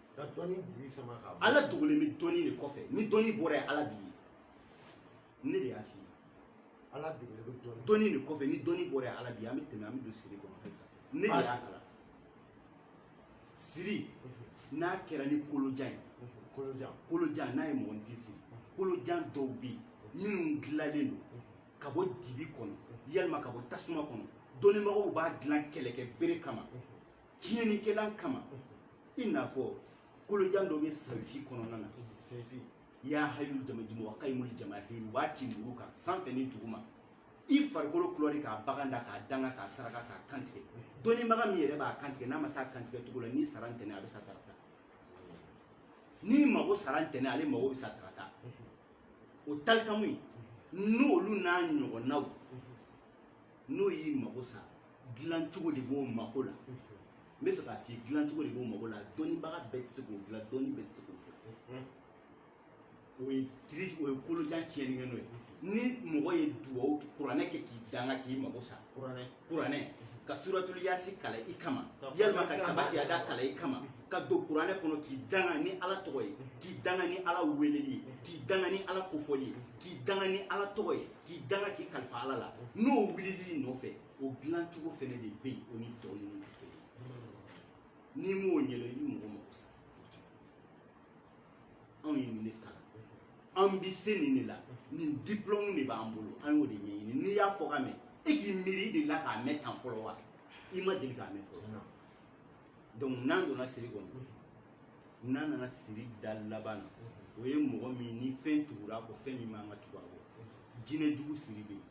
ka dɔnni dibi sama ka bɔ ala dogolen bɛ dɔnni de kɔfɛ ni dɔnni bɔra yen ala bi ye ne de y'a f'i ye ala dogolen bɛ dɔnni dɔnni de kɔfɛ ni dɔnni bɔra yen ala bi ye an bɛ tɛmɛ an bɛ don siri kɔnɔ halisa ne de y'a kalan siri n'a kɛra ni kolojan ye kolojan kolojan n'a ye mɔgɔninfin siri kolojan dɔw bɛ yen minnu dilanlen don ka bɔ dibi kɔnɔ yalima ka bɔ tasuma kɔnɔ dɔnnibagaw b'a dilan kɛlɛkɛ bere kama tiɲɛnikɛlan kama i n'a fɔ kolojan dɔ bɛ sayifi kɔnɔna na ya hayu jamajumu wa kayimul jamahiri u b'a ci muru kan sanfɛ ni duguma i farikolo kulɔri k'a bagan da k'a danga k'a saraka k'a kantigɛ dɔnnibaga min yɛrɛ b'a kantigɛ n'a ma se a kantigɛ cogo la n'i sara ntɛnɛn a bɛ sa tarata n'i mago sara ntɛnɛn ale mago bɛ sa tarata o talisamu in n'olu n'a ɲɔgɔnnaw n'o y'i mago sa dilancogo de b'o mako la n bɛ fɛ k'a f'i ye dilancogo de b'o mako la dɔnnibaga bɛɛ tɛ se k'o dilan dɔnni bɛɛ tɛ se k'o dilan o ye diri o ye kolojan tiɲɛnikɛ n'o ye ni mɔgɔ ye duwawu kuranɛ kɛ k'i danga k'i mago sa kuranɛ kuranɛ ka suratulu yasi kalan i kama yalima ka tabati yada kalan i kama ka don kuranɛ kɔnɔ k'i danga ni ala tɔgɔ ye k'i danga ni ala weleli ye k'i danga ni ala kofɔli ye k'i danga ni ala tɔgɔ ye k'i danga k'i kalifa ala la n'o wulil'i nɔfɛ o dilancogo fɛnɛ de bɛ yen o ni tɔ ninnu tɛ kelen ye n'i m'o ɲɛdɔn i bɛ mɔgɔ mago sa anw ye nin de kalan an bɛ se nin de la nin diplɔmu de b'an bolo an y'o de ɲɛɲini n'i y'a fɔkan mɛn e k'i miiri delila k'a mɛn tan fɔlɔ wa i ma deli k'a mɛn fɔlɔ donc n'an donna siri kɔnɔ n'an nana siri da laban na o ye mɔgɔ min ni fɛn tugura a kɔ fɛn min man ka tugu a kɔ jinɛ jugu siri bɛ yen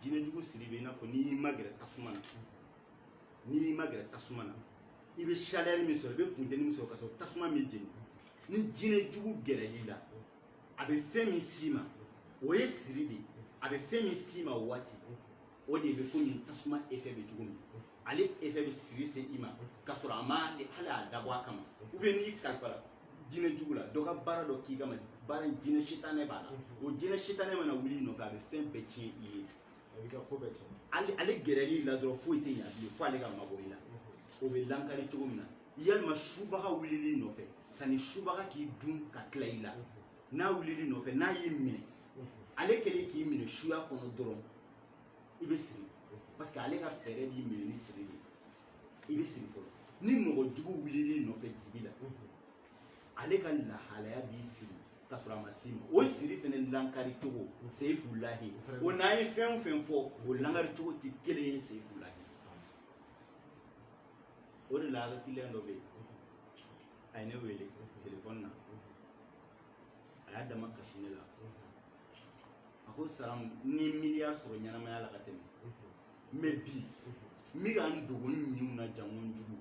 jinɛ jugu siri bɛ yen i n'a fɔ n'i y'i magɛrɛ tasuma na n'i y'i magɛrɛ tasuma na i bɛ chaleur min sɔrɔ i bɛ funteni min sɔrɔ ka sɔrɔ tasuma m'i jeni ni jinɛ jugu gɛrɛl'i la a bɛ fɛn min s'i ma o ye siri de ye a bɛ fɛn min s'i ma o waati o de bɛ komi tasuma effet bɛ cogo min ale effet bɛ siri se i ma ka sɔrɔ a ma hali a dabɔ a kama ou bien n'i kalifara jinɛ jugu la dɔ ka baara dɔ k'i kama baara in jinɛ sitanɛ b'a la o jinɛ sitanɛ mana wuli i nɔfɛ a bɛ fɛn bɛɛ tiɲɛ i ye ale ale gɛrɛl'i la dɔrɔn foyi tɛ ɲa bilen fo ale ka mabɔ i la o bɛ lankari cogo min na yalima subaga wulil'i nɔfɛ sanni subaga k'i dun ka tila i la n'a wulil'i nɔfɛ n'a y'i minɛ ale kɛlen k'i minɛ suya kɔnɔ dɔrɔn i bɛ siri parce que ale ka fɛɛrɛ b'i minɛ ni siri de i bɛ siri fɔlɔ ni mɔgɔ jugu wulil'i nɔfɛ dibi la ale ka lahalaya b'i siri ka sɔrɔ a ma s'i ma o siri fɛnɛ lankari cogo seyifu lahi o n'an ye fɛn o fɛn fɔ o lankari cogo tɛ kelen ye seyifu lahi o de la kiliyan dɔ bɛ yen a ye ne wele telefɔni na a y'a dama kasi ne la a ko salam n ye miliyari sɔrɔ ɲɛnamaya la ka tɛmɛ mais bi n bɛ ka n dogo n ɲinw na jango n jugu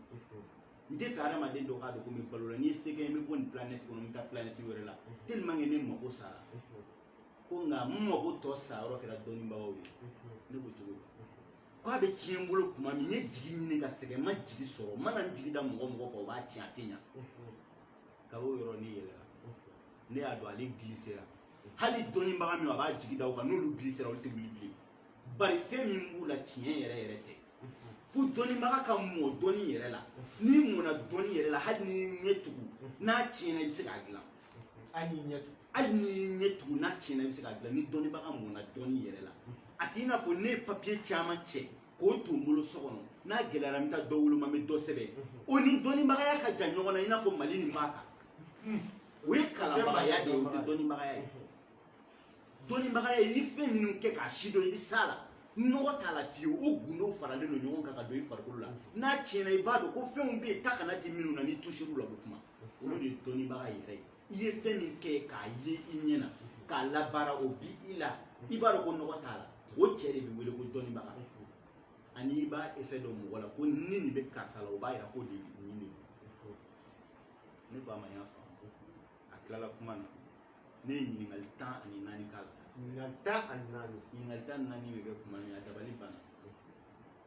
n tɛ fɛ adamaden dɔ k'a dɔn ko n bɛ balo la ni n ye se kɛ n bɛ bɔ nin planɛti kɔnɔ n bɛ taa planɛti wɛrɛ la tellement que ne mago sara ko nka n mago tɔ sa yɔrɔ kɛra dɔnnibagaw ye ne ko cogo di ko a bɛ tiɲɛ n bolo tuma min n ye jigi ɲini ka sɛgɛn n ma jigi sɔrɔ n mana n jigi da mɔgɔ mɔgɔ kan o b'a tiɲɛ a tɛ ɲa kab'o yɔrɔ ne yɛlɛla ne y'a dɔn ale gilisera hali dɔnnibaga min a b'a jigi da o kan n'olu gilisera olu tɛ wuli bilen bari fɛn min b'u la tiɲɛ yɛrɛ yɛrɛ tɛ fo dɔnnibaga ka mɔ dɔnni yɛrɛ la n'i mɔna dɔnni yɛrɛ la hali n'i ɲɛ tugu n'a tiɲɛna i bɛ se k'a dilan hali n'i ɲɛ tugu hali n'i y'i ɲɛ tugu n'a tiɲɛna i bɛ se k'a dilan ni dɔnnibaga mɔna dɔnni yɛrɛ la a t'i n'a fɔ ne ye papiye caman cɛ k'o to n bolo so kɔnɔ n'a gɛlɛyara n bɛ taa dɔ woloma n bɛ dɔ sɛbɛn o ni dɔnnibagaya ka jan ɲɔgɔn na i n'a fɔ mali nin b'a kan o ye kalanbagaya de ye o tɛ dɔnnibagaya ye dɔnnibagaya ye ni fɛn minnu kɛ k'a sidɔn i bɛ s'a la nɔgɔ t'a la fiyewu o gundow faralen don ɲɔgɔn kan ka don i farikolo la n'a tiɲɛna i b'a dɔn ko fɛnw bɛ yen ta kana di minnu na n'i tusir'u la u bɛ kuma olu de ye dɔnnibaga yɛrɛ ye i ye fɛn min kɛ k'a ye i ɲɛ na k'a labaara o bi i la i b'a dɔn ko nɔgɔ t'a la o cɛ de bɛ wele ko dɔnnibaga ani i b'a efɛ dɔn mɔgɔ la ko ni nin bɛ karisa la o b'a yira ko de nin de ne ko a ma n y'a faamu a tilala kuma na ne ye ɲininkali tan ani naani k'a la ɲininkali tan ani naani ɲininkali tan ani naani bɛ kɛ kuma min a dabali banna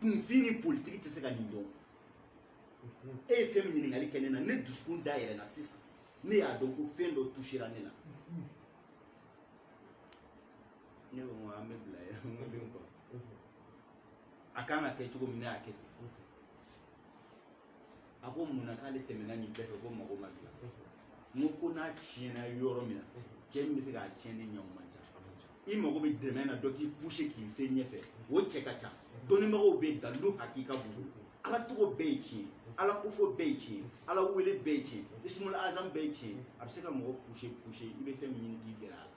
kunfin ni politiki tɛ se ka nin dɔn e ye fɛn min ɲininkali kɛ ne na ne dusukun da yɛlɛnna sisan ne y'a dɔn ko fɛn dɔ tusira ne la ne ko ko an bɛ bila yɛrɛ n ko den kɔ a kan ka kɛ cogo min ne y'a kɛ ten a ko mun na k'ale tɛmɛna nin bɛɛ fɛ ko mago ma dilan n ko n'a tiɲɛna yɔrɔ min na cɛ min bɛ se k'a tiɲɛnen ɲɛ o man ca i mago bɛ dɛmɛ na dɔ k'i puse k'i se ɲɛfɛ o cɛ ka ca dɔnnibagaw bɛ yen dalilu hakika b'u bolo ala tɔgɔ bɛɛ ye tiɲɛ ala kofɔ bɛɛ ye tiɲɛ ala wele bɛɛ ye tiɲɛ isumul azam bɛɛ ye tiɲɛ a bɛ se ka mɔgɔ puse puse i bɛ fɛn min ɲini k'i gɛrɛ a la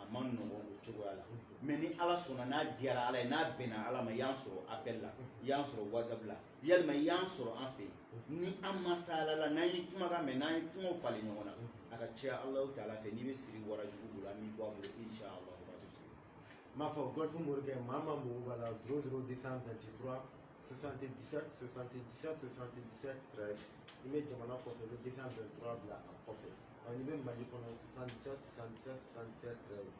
a ma nɔgɔn o cogoya la mɛ ni ala sɔnna n'a diyara ala ye n'a bɛnna ala ma y'an sɔrɔ apɛl la y'an sɔrɔ whatsapp la yalima y'an sɔrɔ an fɛ yen ni an masalala n'an ye kumakan mɛn n'an ye kumaw falen ɲɔgɔn na a ka ca alahu taala fɛ n'i bɛ siri warajugu bolo an b'i bɔ a bolo insha allah n b'a fɔ golf morikɛ maa ma mɔgɔw b'a la 0 0 223 77 77 77 13 n'i bɛ jamana kɔfɛ i bɛ 223 bila a kɔfɛ N'i bɛ mali kɔnɔ 77 77 77 13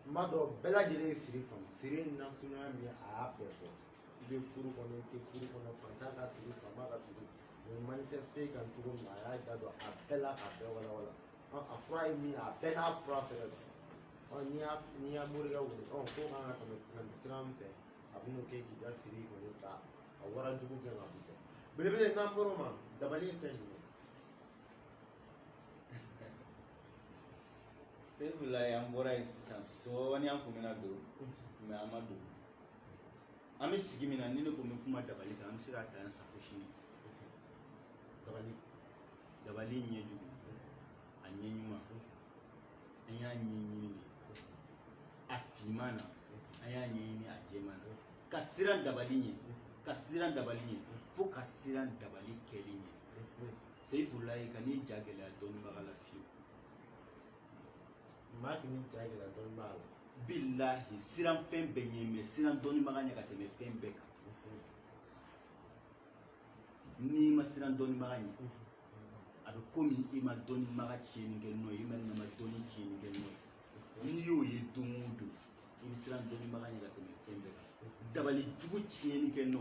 n b'a dɔn bɛɛ lajɛlen ye siri faamu siri nasuguya min a y'a bɛɛ fɔ i bɛ furu kɔnɔ i tɛ furu kɔnɔ fantan ka siri faama ka siri nin manifeste kan cogo min na a y'a da don a bɛɛ la k'a bɛɛ walawala a fura ye min ye a bɛɛ n'a fura fɛnɛ don n'i y'a n'i y'a morikɛ wele ko kan ka tɛmɛ tɛmɛ sira min fɛ a bɛ n'o kɛ k'i ka siri foni ka a warajugu gɛn ka b'i kɔ belebele n'an bɔr'o ma dabali ye fɛn jumɛn seyifulayi an bɔra yen sisan sɔɔni an kun bɛna don mɛ an ma don an bɛ sigi min na ni ne ko n bɛ kuma dabali kan an bɛ se k'a ta yan sa fo sini dabali dabali ɲɛ jugu a ɲɛ ɲuman an y'a ɲɛɲini de a finman na an y'a ɲɛɲini a jɛman na ka siran dabali ɲɛ ka siran dabali ɲɛ fo ka siran dabali kɛli ɲɛ seyifulayi kan'i ja gɛlɛya dɔnnibaga la fiyewu maa kan'i ja gɛlɛya dɔnnibaga la bilahi siran fɛn bɛɛ ɲɛ mɛ siran dɔnnibaga ɲɛ ka tɛmɛ fɛn bɛɛ kan n'i ma siran dɔnnibaga ɲɛ a bɛ komi i ma dɔnnibaga tiɲɛni kɛ nɔ ye i ma nama dɔnni tiɲɛni kɛ nɔ ye n'i y'o ye don o don i bɛ siran dɔnnibaga ɲɛ ka tɛmɛ fɛn bɛɛ kan dabali jugu tiɲɛni kɛ nɔ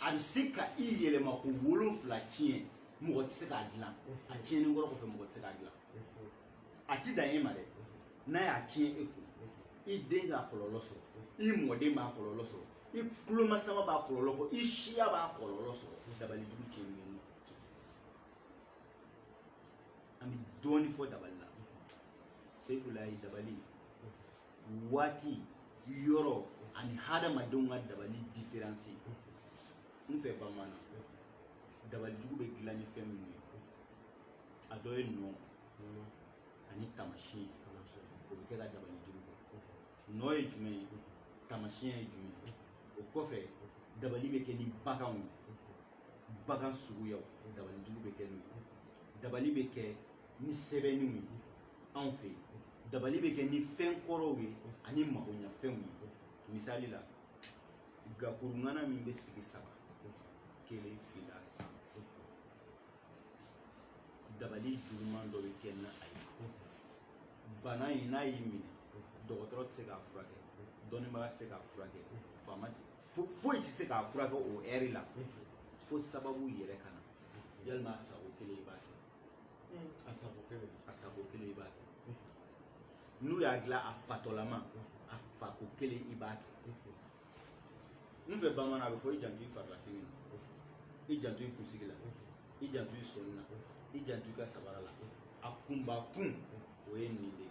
a bɛ se ka i yɛlɛma ko wolonfila tiɲɛ mɔgɔ tɛ se k'a dilan a tiɲɛni kɔrɔ kɔfɛ mɔgɔ tɛ se k'a dilan a tɛ dan e ma dɛ n'a y'a tiɲɛ e kun i den k'a kɔlɔlɔ sɔrɔ i mɔden b'a kɔlɔlɔ sɔrɔ i kulomasama b'a kɔlɔlɔ sɔrɔ i siya b'a kɔlɔlɔ sɔrɔ dabali jugu tiɲɛni kɛ nɔ an bɛ dɔɔni fɔ dabali la seyifulayi dabali waati yɔrɔ ani hadamadenw ka dabali diferansi n fɛ bamanan na dabali jugu bɛ dilan ni fɛn minnu ye a dɔ ye nɔ ani tamasiɲɛ o bɛ kɛ ka dabali jugu kɛ nɔ ye jumɛn ye tamasiɲɛ ye jumɛn ye o kɔfɛ dabali bɛ kɛ ni baganw ye bagan suguyaw dabali jugu bɛ kɛ n'o ye dabali bɛ kɛ ni sɛbɛnniw ye anw fɛ yen dabali bɛ kɛ ni fɛn kɔrɔw ye ani magoɲafɛnw ye misali la gakurungana min bɛ sigi saba kelen fila saba dabali juguman dɔ bɛ kɛ ni a ye bana in n'a y'i minɛ dɔgɔtɔrɔ tɛ se k'a furakɛ dɔnnibaga tɛ se k'a furakɛ faama foyi tɛ se k'a furakɛ o ɛri la fo sababu yɛrɛ ka na yalama a sako kelen i b'a kɛ a sako kelen i b'a kɛ n'u y'a dilan a fatɔlama a fako kelen i b'a kɛ n fɛ bamanan a bɛ fɔ i janto i farilafini na i janto i kunsigi la i janto i sɔnin na i janto i ka sabara la a kunba kun o ye nin de ye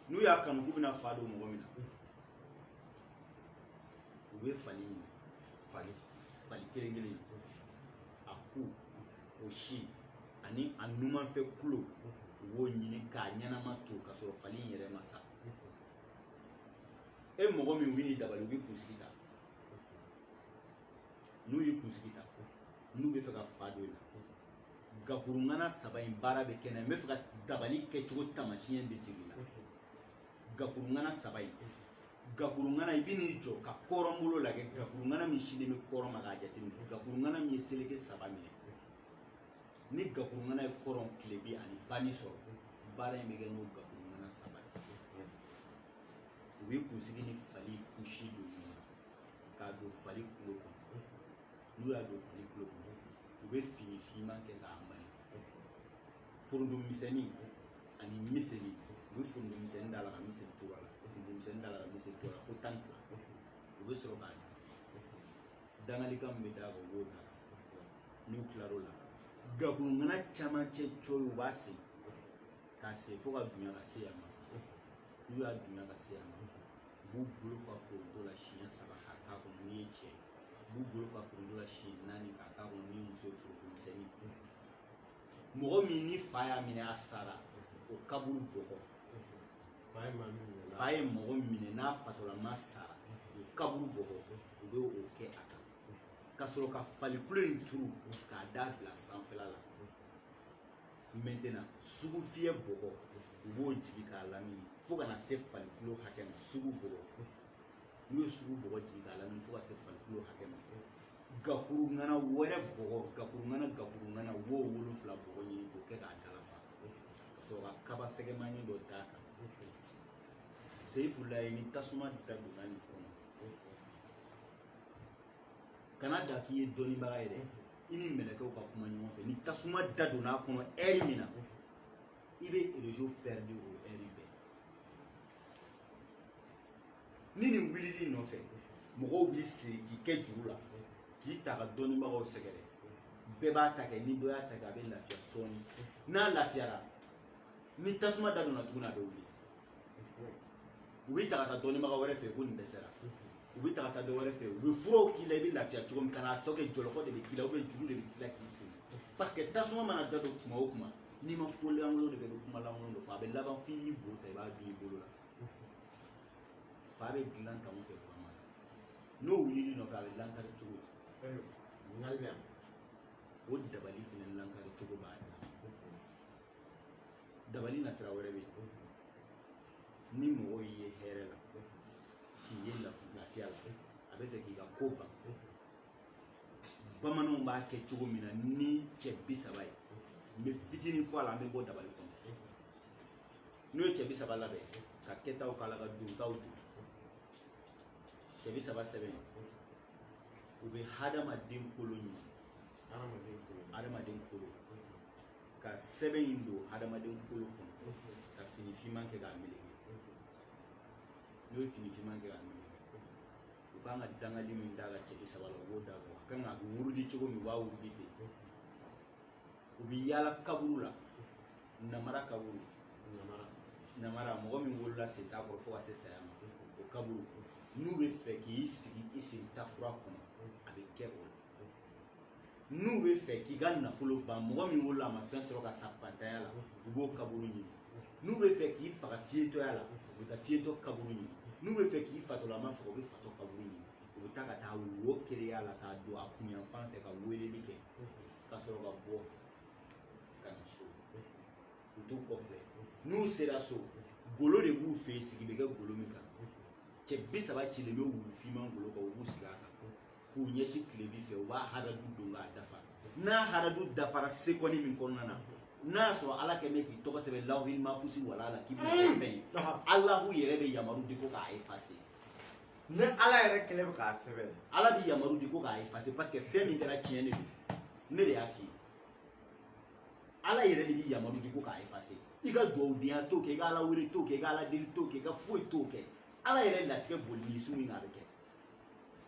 n'u y'a kanu k'u bɛna fa don mɔgɔ min na u bɛ fali ɲini fali kelen kelen a ku o si ani a numanfɛ kulo u b'o ɲini k'a ɲɛnama to ka sɔrɔ fali in yɛrɛ ma sa e mɔgɔ min u b'i dabali u b'i kunsigi ta n'u y'i kunsigi ta n'u bɛ fɛ ka fa don i la gakurungana saba in baara bɛ kɛ n'a ye n bɛ fɛ ka dabali kɛcogo taamasiyɛn de jir'i la gakurungana saba in gakurungana i bɛ n'i jɔ ka kɔrɔnbolo lajɛ gakurungana min sinnen bɛ kɔrɔn ma k'a jateminɛ gakurungana min ye seleke saba minɛ ni gakurungana ye kɔrɔn tilebin ani bani sɔrɔ baara in bɛ kɛ n'o gakurungana saba ye u bɛ kunsigi ni fali kusi don ɲɔgɔn na k'a don fali kulo kɔnɔ n'u y'a don fali kulo kɔnɔ u bɛ fini finman kɛ k'a mali foronto misɛnnin ani miseli u bɛ foronto misɛnnin d'a la ka miseli to a la foronto misɛnnin d'a la ka miseli to a la fo tan ni fila u bɛ sɔrɔ ka dangalikan min bɛ d'a kan u b'o da n'u tilar'o la gakurungana camancɛ cɔyi u b'a sen k'a sen fo k'a dunya ka se yan ma n'u y'a dunya ka se yan ma u b'u bolo fa foronto la siɲɛ saba k'a k'a kɔnɔ n'i ye cɛ ye u b'u bolo fa foronto la siɲɛ naani k'a k'a kɔnɔ n'i ye muso ye foronto misɛnnin mɔgɔ min ni fa y'a minɛ a sara o kaburu bɔgɔ fa ye mɔgɔ minɛ n'a fatɔlama sara o kaburu bɔgɔ u bɛ o kɛ a kan ka sɔrɔ ka fali kulo in turu k'a da bila sanfɛla la maintenant sugufiyɛ bɔgɔ u b'o jigin k'a lamini fo ka na se fali kulo hakɛ ma sugu bɔgɔ n'u ye sugu bɔgɔ jigin k'a lamini fo ka se fali kulo hakɛ ma gakurungana wɛrɛ bɔgɔ gakurungana wo wolonfila bɔgɔ ɲini k'o kɛ k'a dala fa ka sɔrɔ ka kaba fɛgɛmani dɔ d'a kan seyifulayi ni tasuma da donna nin kɔnɔ kana da k'i ye dɔnnibaga ye dɛ i ni mɛlɛkɛw ka kuma ɲɔgɔn fɛ ni tasuma da donna a kɔnɔ ɛri min na i bɛ réseau pɛridi o ɛri bɛɛ ni nin wulil'i nɔfɛ mɔgɔw b'i siri k'i kɛ juru la k'i ta ka dɔnnibagaw sɛgɛrɛ bɛɛ b'a ta kɛ ni dɔ y'a ta kɛ a bɛ lafiya sɔɔni n'a lafiyara ni tasuma da donna tuguni a bɛ wuli u b'i ta ka taa dɔnnibaga wɛrɛ fɛ ko nin dɛsɛra u b'i ta ka taa dɔ wɛrɛ fɛ u bɛ furaw k'i la i bɛ lafiya cogo min ka n'a tɔ kɛ jɔlɔkɔ de bɛ k'i la juru de bɛ k'i la k'i siri parce que tasuma mana da don kuma o kuma n'i ma ko lankolon de kɛ ni kuma lankolon de fɔ a bɛ laban f'i b'i bo ta i b'a dun i bolo la fa bɛ dilan tan o fɛ kuma n'o wulili nɔfɛ a bɛ lankari cogo di ŋalibɛ o dabali fana lankari cogo b'a la dabali nasira wɛrɛ bɛ yen ni mɔgɔ y'i ye hɛrɛ la k'i ye lafiya la a bɛ fɛ k'i ka ko ban bamananw b'a kɛ cogo min na ni cɛ bi saba ye n bɛ fitinin fɔ a la an bɛ bɔ dabali kɔnɔ n'o ye cɛ bi saba labɛn ka kɛtaw k'a la ka dontaw don cɛ bi saba sɛbɛn u bɛ hadamaden kolo ɲuman hadamaden kolo ka sɛbɛn in don hadamaden kolo kɔnɔ ka fini finman kɛ k'a meleke n'o ye fini finman kɛ k'a meleke u kan ka dangali min d'a kan cɛ bi saba la u b'o d'a kan a kan ka wurudi cogo min u b'a wurudi ten u bɛ yaala kaburu la namara kaburu namara mɔgɔ min wolola sen t'a kɔrɔ fo ka se saya ma o kaburu n'u bɛ fɛ k'i sigi i sen tafura kɔnɔ a bɛ kɛ o la n'u bɛ fɛ k'i ka nafolo ban mɔgɔ min wolola a ma fɛn sɔrɔ ka sa fantanya la u b'o kaburu ɲini n'u bɛ fɛ k'i faga fiyetɔya la u bɛ taa fiyetɔ kaburu ɲini n'u bɛ fɛ k'i fatɔlama faga u bɛ fatɔ kaburu ɲini u bɛ taa ka taa wo kereya la k'a don a kunyanfan fɛ ka weleli kɛ ka sɔrɔ ka bɔ ka na so u t'u kɔ filɛ n'u sera so golo de b'u fɛ yen sigi bɛ kɛ golo min kan cɛ bi saba cilen bɛ wulufinman golo kan u b'u sigi a kan k'u ɲɛsin tilebi fɛ u b'a haradu don k'a dafa n'a haradu dafara sekɔni min kɔnɔna na n'a y'a sɔrɔ ala kɛlen bɛ k'i tɔgɔ sɛbɛn lawuhil mafusi wala la k'i bɛ fɛn ye alahu yɛrɛ bɛ yamaru di ko k'a effacer ni ala yɛrɛ kɛlen bɛ k'a sɛbɛn ala bɛ yamaru di ko k'a effacer parce que fɛn min kɛra tiɲɛ de don ne de y'a f'i ye ala yɛrɛ de bɛ yamaru di ko k'a effacer i ka dugawudenya t'o kɛ i ka ala wele t'o kɛ i ka ala deli t'o kɛ i ka foyi t'o kɛ ala yɛrɛ latigɛ boli ni su min na a bɛ kɛ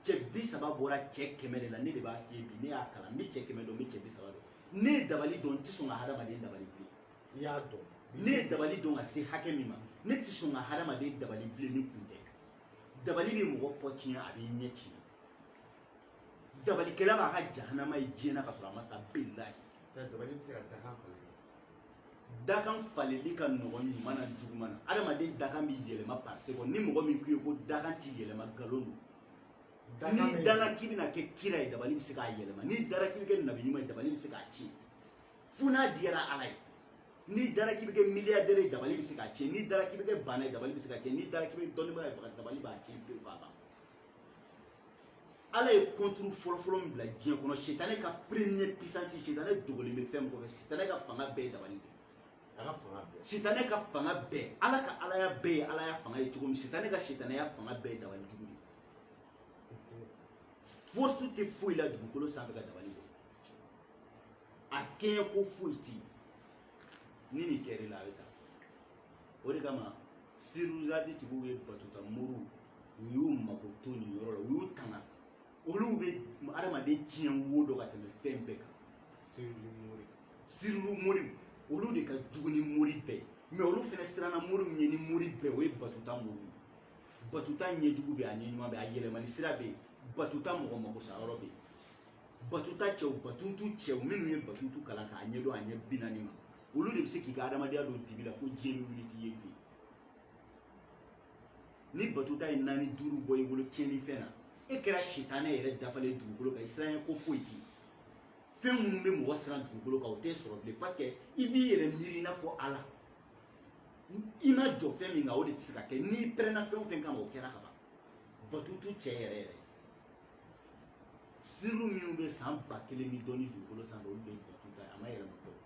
cɛ bi saba bɔra cɛ kɛmɛ de la ne de b'a f'i ye bi ne y'a kalan n bɛ cɛ kɛmɛ dɔn n bɛ cɛ bi saba dɔn ne ye dabali dɔn n tɛ sɔn ka hadamaden dabali bilen i y'a dɔn ne ye dabali dɔn ka se hakɛ min ma ne tɛ sɔn ka hadamaden dabali bilen ni kun tɛ dabali bɛ mɔgɔ kɔ tiɲɛ a b'i ɲɛ tiɲɛ dabalikɛla b'a ka jahanama ye diɲɛ na ka sɔrɔ a ma sa bilahi dabali bɛ se ka dakan falen dakan faleli ka nɔgɔn ɲuman na juguman na adamaden dakan bɛ yɛlɛma par seconde ni mɔgɔ min k'u ye ko dakan tɛ yɛlɛma nkalon don n'i dara k'i bɛna kɛ kira ye dabali bɛ se k'a yɛlɛma n'i dara k'i bɛ kɛ nabi ɲuman ye dabali bɛ se k'a tiɲɛ fo n'a diyara ala ye n'i dara k'i bɛ kɛ miliyardɛri ye dabali bɛ se k'a tiɲɛ n'i dara k'i bɛ kɛ baana ye dabali bɛ se k'a tiɲɛ n'i dara k'i bɛ dɔnnibaa ye dabali b'a tiɲɛ pewu k'a ban ala ye contre fɔlɔfɔlɔ min bila diɲɛ kɔnɔ sitanɛ ka premier puissance sitanɛ dogolen bɛ fɛn min kɔfɛ sitanɛ ka fanga bɛɛ ye dabali de a ka fanga bɛɛ sitanɛ ka fanga bɛɛ ala ka alaya bɛɛ ye alaya fanga ye cogo min sitanɛ ka sitanɛya fanga bɛɛ ye dabali jugu de force tɛ foyi la dugukolo sanfɛ ka dabali bɔ a kɛɲɛ ko foyi tɛ yen ni nin kɛra i la a bɛ taa o de kama siruzati tigiw ye batuta muru u y'u mako to nin yɔrɔ la u y'u tanga olu bɛ adamaden tiɲɛ wo dɔ ka tɛmɛ fɛn bɛɛ kan sirilu mori olu de ka jugu ni mori bɛɛ mais olu fana siranna mori min ye ni mori bɛɛ o ye batuta mori batuta ɲɛjugu bɛ a ɲɛɲuman bɛ a yɛlɛmani sira bɛ yen batuta mɔgɔ mako sa yɔrɔ bɛ yen batuta cɛw batutu cɛw minnu ye batutu kalan k'a ɲɛdɔn a ɲɛ bi naani ma olu de bɛ se k'i ka adamadenya don dibi la fo diɲɛ bɛ wuli t'i ye bi ni batuta ye naani duuru bɔ i bolo tiɲɛnifɛn na e kɛra sitanɛ yɛrɛ dafalen dugukolo kan i siranɲɛ ko foyi tɛ fɛn minnu bɛ mɔgɔ siran dugukolo kan o tɛ sɔrɔ bilen parce que i b'i yɛrɛ miiri i n'a fɔ ala i ma jɔ fɛn min kan o de tɛ se ka kɛ n'i pɛrɛnna fɛn o fɛn kama o kɛra ka ban batutu cɛ yɛrɛ yɛrɛ siriw minnu bɛ san ba kelen ni dɔɔni dugukolo sanfɛ olu de ye batuta ye a ma yɛlɛma fɔlɔ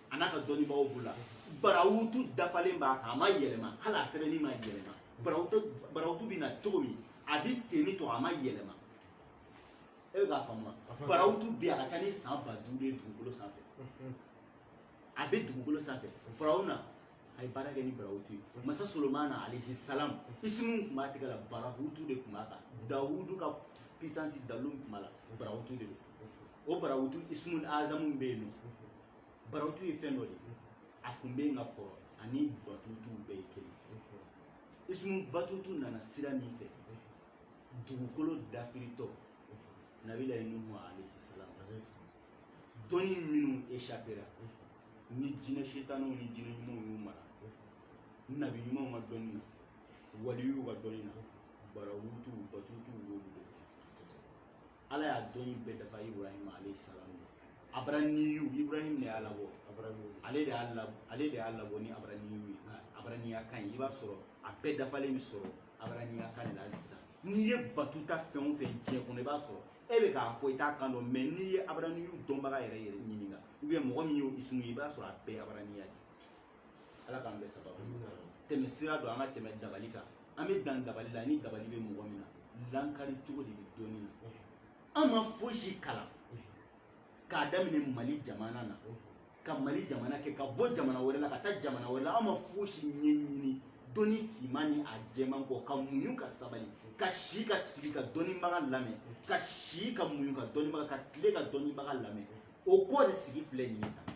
a n'a ka dɔnnibaaw bolo la barawutu dafalen b'a kan a ma yɛlɛma hali a sɛbɛnni ma yɛlɛma barawutu barawutu bɛ na cogo min a bɛ ten ni tɔ a ma yɛlɛma e bɛ k'a faamu wa barawutu bɛ yen a ka ca ni san ba duuru ye dugukolo sanfɛ a bɛ dugukolo sanfɛ farawuna a ye baara kɛ ni barawutu ye masa solomana alayhi salam isimu tun b'a tɛgɛ la barawutu de tun b'a kan dawudu ka puissance dalu tun b'a la barawutu de don o barawutu isimu azamu bɛ yen nɔ barawutu ye fɛn dɔ de ye a tun bɛ yen ka kɔrɔ ani batutuw bɛɛ ye kelen isimu batutu nana sira min fɛ dugukolo dafiritɔ nabilayi nuhu alayhi salam dɔnni minnu échappera ni jinɛ setaniw ni jinɛ ɲumanw y'u mara nabi ɲumanw ka dɔnni na waliyuw ka dɔnni na barawutuw batutuw y'olu de kɛ ala y'a dɔnni bɛɛ dafa ibrahima alayhi salam abaraniyu ibrahim de y'a labɔ ale de y'a labɔ ni abaraniyu ye abaraniya kan ye i b'a sɔrɔ a bɛɛ dafalen bɛ sɔrɔ abaraniya kan de la hali sisan n'i ye batuta fɛn o fɛn diɲɛ kɔnɔ i b'a sɔrɔ e bɛ k'a fɔ i t'a kan dɔn mais n'i ye abaraniyu dɔnbaga yɛrɛ yɛrɛ ɲininka ou bien mɔgɔ min y'o isimu ye i b'a sɔrɔ a bɛɛ ye abaraniya de ye ala k'an bɛɛ sababu tɛmɛ sira don an ka tɛmɛ dabali kan an bɛ dan dabali la ni dabali bɛ mɔgɔ min na lankari cogo de bɛ dɔnni na an ma fosi kalan k'a daminɛ mali jamana na ka mali jamana kɛ ka bɔ jamana wɛrɛ la ka taa jamana wɛrɛ la an ma fosi ɲɛɲini dɔnni finman ni a jɛman kɔ ka muɲu ka sabali ka si ka sigi ka dɔnnibaga lamɛn ka si ka muɲu ka dɔnnibaga ka tile ka dɔnnibaga lamɛn o kɔ de sigi filɛ nin ye tan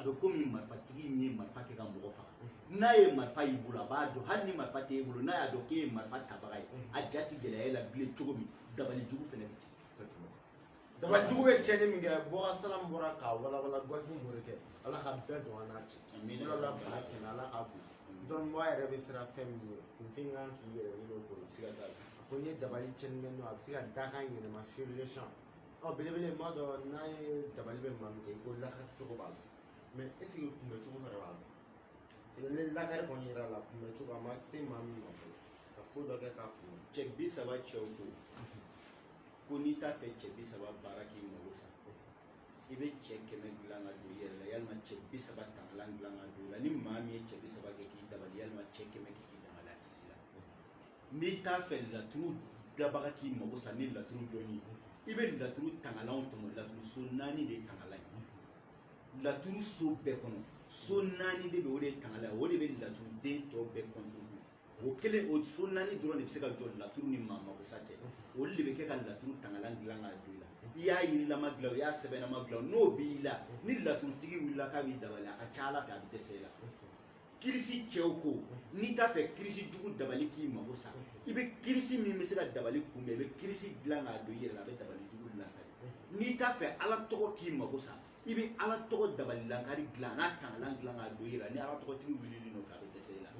a bɛ komi marifatigi min ye marifa kɛ ka mɔgɔ faga n'a ye marifa y'i bolo a b'a dɔn hali ni marifa tɛ e bolo n'a y'a dɔn k'e ye marifa tabaga ye a ja tɛ gɛlɛya e la bilen cogo min dabali jugu fɛnɛ bɛ ten dabali jugu bɛ tiɲɛni min kɛ bɔkasalamu bɔra k'a walawala gɔlifu morikɛ ala ka bɛn don an n'a cɛ yɔrɔ la fana kɛnɛ ala k'a bon dɔnnibaa yɛrɛ bɛ siran fɛn min ɲɛ kunfin kan k'i yɛrɛ ɲini o ko la siga t'a la ko n ye dabali tiɲɛni kɛ n'o a bɛ se ka dakan yɛlɛma fiyewu ɔ belebele m'a dɔn n'a ye dabali bɛ maa min kɛ i ko lakari cogo b'a la mais est-ce que kunbɛ cogo fɛnɛ b'a la ni lakari kɔni yera la kunbɛ cogo a ma se maa min ma fɔlɔ ka fo dɔ kɛ k'a kunbɛ cɛ bi saba cɛw ko ko n'i t'a fɛ cɛ bi saba baara k'i mago sa i bɛ cɛ kɛmɛ dilan ka don i yɛrɛ la yalima cɛ bi saba tangalan dilan ka don i la ni maa min ye cɛ bi saba kɛ k'i dabali yalima cɛ kɛmɛ kɛ k'i dabali a tɛ se la n'i t'a fɛ laturu dabaga k'i mago sa ni laturu dɔnni i bɛ laturu tangalanw tɔmɔ laturu so naani de ye tangalan ye laturu so bɛɛ kɔnɔ so naani de bɛ o de ye tangalan ye o de bɛ laturu den tɔ bɛɛ contrôler o kelen o so naani dɔrɔn de bɛ se ka jɔ laturu ni maa mago sa cɛ olu de bɛ kɛ ka laturu tangalan dilan k'a don i la i y'a yirilama dilan o i y'a sɛbɛnama dilan o n'o b'i la ni laturutigi wulila k'a b'i dabali a ka ca ala fɛ a bɛ dɛsɛ i la kirisi cɛw ko n'i t'a fɛ kirisi jugu dabali k'i mago sa i bɛ kirisi min bɛ se ka dabali kunbɛn i bɛ kirisi dilan k'a don i yɛrɛ la a bɛ dabali jugu lankari n'i t'a fɛ ala tɔgɔ k'i mago sa i bɛ ala tɔgɔ dabali lankari dilan n'a tangalan dilan k'a don i yɛrɛ la ni ala tɔgɔtigi wulil'i nɔfɛ a bɛ dɛsɛ i la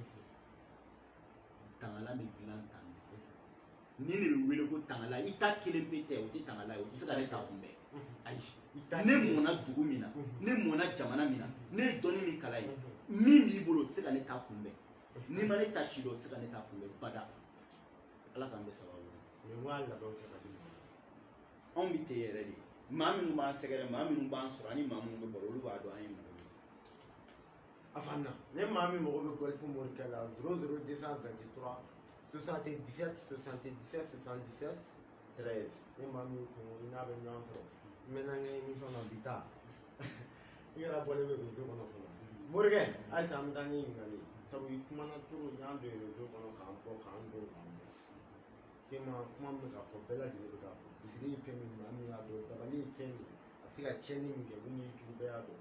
tangalan bɛ dilan tan nin de bɛ wele ko tangalan i ta kelen pe tɛ o tɛ tangalan ye o tɛ se ka ne ta kunbɛn ayi ne mɔna dugu min na ne mɔna jamana min na ne ye dɔnni min kalan ye min b'i bolo o tɛ se ka ne ta kunbɛn n'i ma ne ta si dɔn o tɛ se ka ne ta kunbɛn bada ala k'an bɛɛ sababu ɲɛ anw bɛ ten yɛrɛ de maa minnu b'an sɛgɛrɛ maa minnu b'an sɔrɔ ani maa minnu bɛ baro olu b'a dɔn an ye mɔgɔ a fan na ne maa min mago bɛ gɔlifu morikɛ la zéro zéro deux cent vingt trois soixante dix sept soixante dix sept soixante dix sept treize ne maa min kun i n'a bɛ ɲɔgɔn sɔrɔ n bɛ n'an ka émission na bi ta i yɛrɛ bɔlen bɛ réseau kɔnɔ fɔlɔ morikɛ halisa an bɛ taa ni ɲininkali sabu i kumana toro n y'a don réseau kɔnɔ k'an bɔ k'an don k'an bɔ tema kuma min bɛ k'a fɔ bɛɛ lajɛlen bɛ k'a fɔ bi siri ye fɛn min maa min y'a dɔn dabali ye fɛn min a bɛ se ka tiɲɛni min kɛ mun y'i jugu bɛɛ y'a dɔn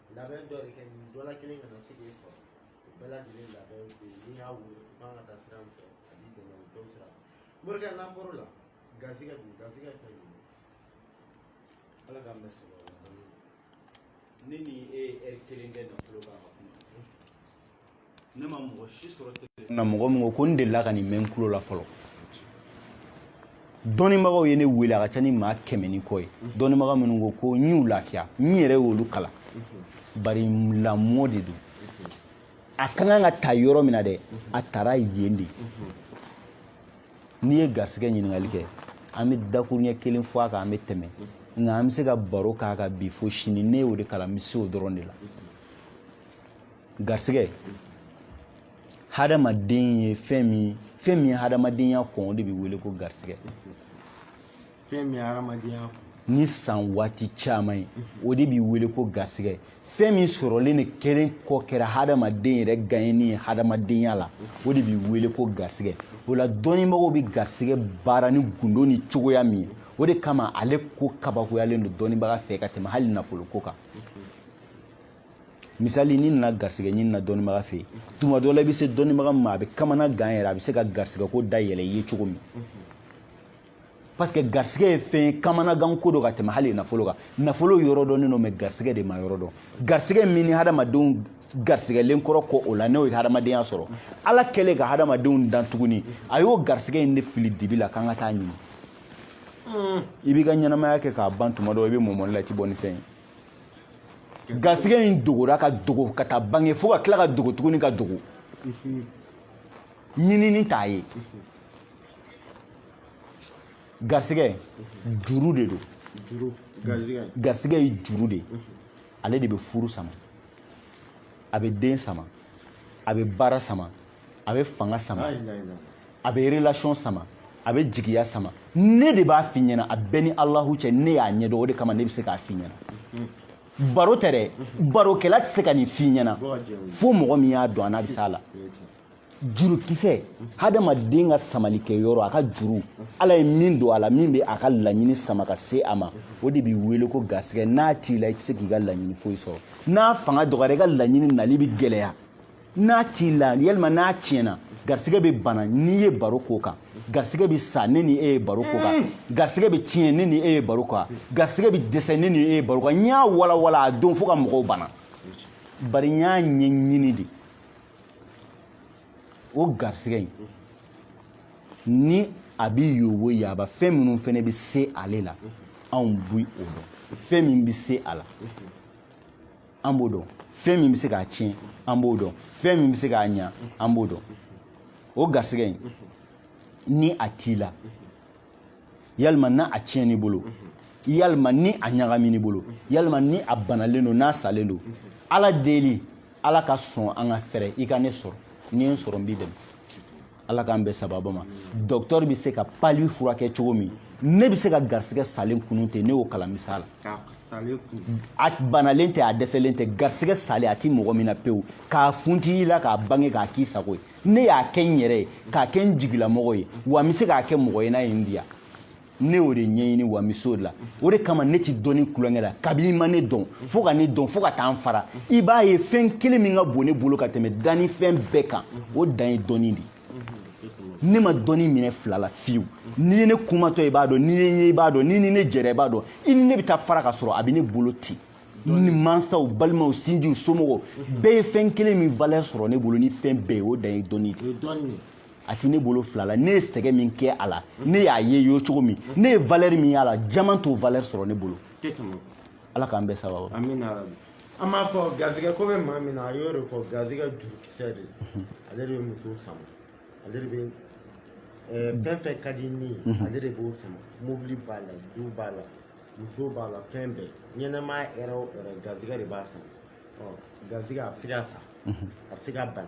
labɛn dɔ de kɛ nin dɔ la kelen kana se k'e sɔrɔ o bɛɛ lajɛlen labɛn bɛ yen n'i y'a wele i kan ka taa sira min fɛ a b'i dɛmɛ o dɔw sira fɛ morikɛ n'an bɔr'o la garisɛgɛ dun garisɛgɛ ye fɛn jumɛn ala k'an bɛɛ sɛgɛn o la ne ni e ye ɛri kelen kɛ nafolo kan ka kuma ne ma mɔgɔ si sɔrɔ tele na mɔgɔ min ko ko n delila ka nin mɛn n tulo la fɔlɔ dɔnnibagaw ye ne wele a ka ca ni maa kɛmɛ ni kɔ ye dɔnnibaga minnu ko ko n y'u lafiya n yɛrɛ y'olu kalan bari lamɔ de don a ka kan ka taa yɔrɔ min na dɛ a taara yen de n'i ye garisɛgɛ ɲininkali kɛ an bɛ dakuruɲɛ kelen fɔ a kan an bɛ tɛmɛ nka an bɛ se ka baro k'a kan bi fo sini ne y'o de kalan n bɛ se o dɔrɔn de la garisɛgɛ hadamaden ye fɛn min fɛn min ye hadamadenya kɔn o de bɛ wele ko garisɛgɛ fɛn min ye hadamadenya kɔn ni san waati caman ye o de bɛ wele ko garisɛgɛ fɛn min sɔrɔlen de kelen kɔ kɛra hadamaden yɛrɛ gaɲɛni ye hadamadenya la o de bɛ wele ko garisɛgɛ o la dɔnnibagaw bɛ garisɛgɛ baara ni gundo ni cogoya min ye o de kama ale ko kabakoyalen don dɔnnibaga fɛ ka tɛmɛ hali nafolo ko kan misali n'i nana garisɛgɛ ɲini na dɔnnibaga fɛ yen tuma dɔ la i bɛ se dɔnnibaga ma a bɛ kamana gan yɛrɛ a bɛ se ka garisɛgɛ ko da yɛlɛ i ye cogo min parce que garisɛgɛ ye fɛn ye kamana gan ko don ka tɛmɛ hali nafolo kan nafolo yɔrɔ dɔnnen don mɛ garisɛgɛ de ma yɔrɔ dɔn garisɛgɛ min ni hadamadenw garisɛgɛlen kɔrɔ kɔ o la n'o ye hadamadenya sɔrɔ ala kɛlen ka hadamadenw dan tuguni a y'o garisɛgɛ in de fili dibi la k'an ka taa ɲini i b'i ka ɲɛnamaya kɛ k'a ban tuma dɔ i bɛ mɔmɔni la i tɛ bɔ ni fɛn ye garisɛgɛ in dogora ka dogo ka taa bange fo ka tila ka dogo tuguni ka dogo ɲinini t'a ye garisɛgɛ juru de don garisɛgɛ ye juru de ye ale de bɛ furu sama a bɛ den sama a bɛ baara sama a bɛ fanga sama a bɛ relation sama a bɛ jigiya sama ne de b'a f'i ɲɛna a bɛ n ni alahu cɛ ne y'a ɲɛdɔn o de kama ne bɛ se k'a f'i ɲɛna mm-hmm. baro tɛ dɛ mm-hmm. barokɛla tɛ se ka nin f'i ɲɛna fo mɔgɔ min y'a dɔn an'a bɛ s'a la jurukisɛ mm-hmm. hadamaden ka samalikɛyɔrɔ a ka juru ala ye min don a la min bɛ a ka laɲini sama ka se a ma o de bɛ wele ko garisɛgɛ n'a t'i la i tɛ se k'i ka laɲini foyi sɔrɔ n'a fanga dɔgɔyara i ka laɲini nali bɛ gɛlɛya n'a t'i la yalima n'a tiɲɛna garisigɛ bɛ bana n'i ye baro k'o kan garisigɛ bɛ sa ne ni e ye baro k'o kan mm. garisigɛ bɛ tiɲɛ ne ni e ye baro k'o kan garisigɛ bɛ dɛsɛ ne ni e ye baro k'o kan n y'a walawala a don fo ka mɔgɔw bana bari n y'a ɲɛɲini de o garisigɛ in ni a bɛ yoboyaba fɛn minnu fana bɛ se ale la anw bi o dɔn fɛn min bɛ se a la an b'o dɔn fɛn min bɛ se k'a tiɲɛ an b'o dɔn fɛn min bɛ se k'a ɲa an b'o dɔn o garisɛgɛ in ni a t'i la yalima ni a tiɲɛn'i bolo yalima ni a ɲagamin'i bolo yalima ni a banalen don n'a salen don ala deli ala ka sɔn an ka fɛrɛ i ka ne sɔrɔ ni n sɔrɔ n b'i dɛmɛ ala k'an bɛn sababa ma docteur bɛ se ka pali furakɛ cogo min ne bɛ se ka garisigɛ salen kunun ten ne y'o kalan misala a banalen tɛ a dɛsɛlen tɛ garisigɛ salen a ti mɔgɔ min na pewu k'a funti i la k'a bange k'a k'i sago ye ne y'a kɛ n yɛrɛ ye k'a kɛ n jigilamɔgɔ ye wa n bɛ se k'a kɛ mɔgɔ ye n'a ye n diya ne y'o de ɲɛɲini wa n bɛ s'o de la o de kama ne ti dɔnni tulonkɛ la kabi i ma ne dɔn fo ka ne dɔn fo ka taa n fara i b'a ye fɛn kelen min ka bon ne bolo ka tɛmɛ danni fɛn bɛɛ kan o dan ye dɔnni de ne ma dɔnni minɛ fila la fiyewu n'i ye ne kumatɔ i b'a dɔn n'i ye n ye i b'a dɔn n'i ni ne jɛra i b'a dɔn i ni ne bɛ taa fara ka sɔrɔ a bɛ ne bolo ten ne mansaw balimaw sinjiw somɔgɔw bɛɛ ye fɛn kelen min valeur sɔrɔ ne bolo ni fɛn bɛɛ ye o dan ye dɔnni de a ti ne bolo fila la ne ye sɛgɛ min kɛ a la ne y'a ye yo cogo min ne ye valeur min y'a la jaman t'o valeur sɔrɔ ne bolo ala k'an bɛn sababu an b'a fɔ garizigɛ ko bɛ maa min na a y'o de fɔ garizigɛ jurukisɛ de ale de bɛ muso sama ale de bɛ eh, fɛn fɛn ka di ni ye ale de b'o sama mobili b'a la du b'a la muso b'a la fɛn bɛɛ ɲɛnɛmaya hɛrɛ o hɛrɛ garizigɛ de b'a sama ɔ garizigɛ a bɛ se ka sa a bɛ se ka bana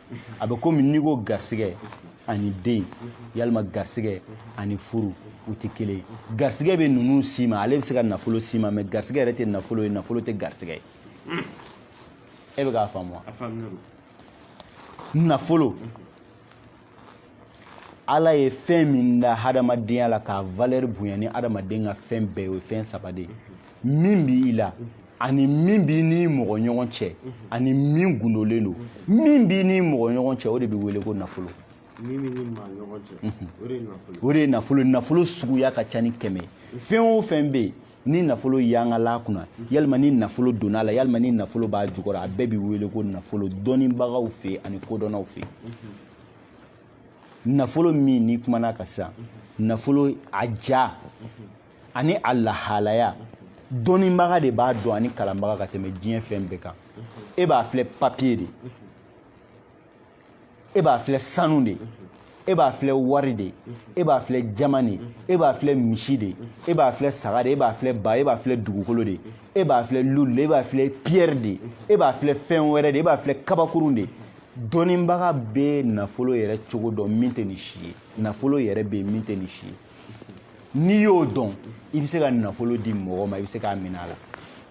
a bɛ komi n'i ko garisigɛ ani den yalima garisigɛ ani furu u tɛ kelen garisigɛ bɛ ninnu sama ale bɛ se ka nafolo sama mɛ garisigɛ yɛrɛ tɛ nafolo ye nafolo tɛ garisigɛ ye e bɛ k'a faamu wa nafolo ala ye fɛn min da hadamadenya la k'a valeur bonya ni hadamaden ka fɛn bɛɛ ye o ye fɛn saba de ye min b'i la ani min b'i n'i mɔgɔ ɲɔgɔn cɛ ani min gundolen don min b'i n'i mɔgɔ ɲɔgɔn cɛ o de bɛ wele ko nafolo o de ye nafolo nafolo suguya ka ca ni kɛmɛ fɛn o fɛn bɛ yen ni nafolo yangal'a kunna yalima ni nafolo donna a la yalima ni nafolo b'a jukɔrɔ a bɛɛ bɛ wele ko nafolo dɔnnibagaw fɛ ani kodɔnnaw fɛ nafolo min n'i kuman'a kan sisan nafolo a ja ani a lahalaya dɔnnibaga de b'a dɔn ani kalanbaga ka tɛmɛ diɲɛ fɛn bɛɛ kan e b'a filɛ papiye de e b'a filɛ sanu de e b'a filɛ wari de e b'a filɛ jaman de e b'a filɛ misi de e b'a filɛ saga de e b'a filɛ ba e b'a filɛ dugukolo de e b'a filɛ lulu de e b'a filɛ pierre de e b'a filɛ fɛn wɛrɛ de e b'a filɛ kabakurun de dɔnnibaga bɛ nafolo yɛrɛ cogo dɔn min tɛ nin si ye nafolo yɛrɛ bɛ min tɛ nin si ye n'i y'o dɔn i bɛ se ka nafolo di mɔgɔ ma i bɛ se k'a minɛ a la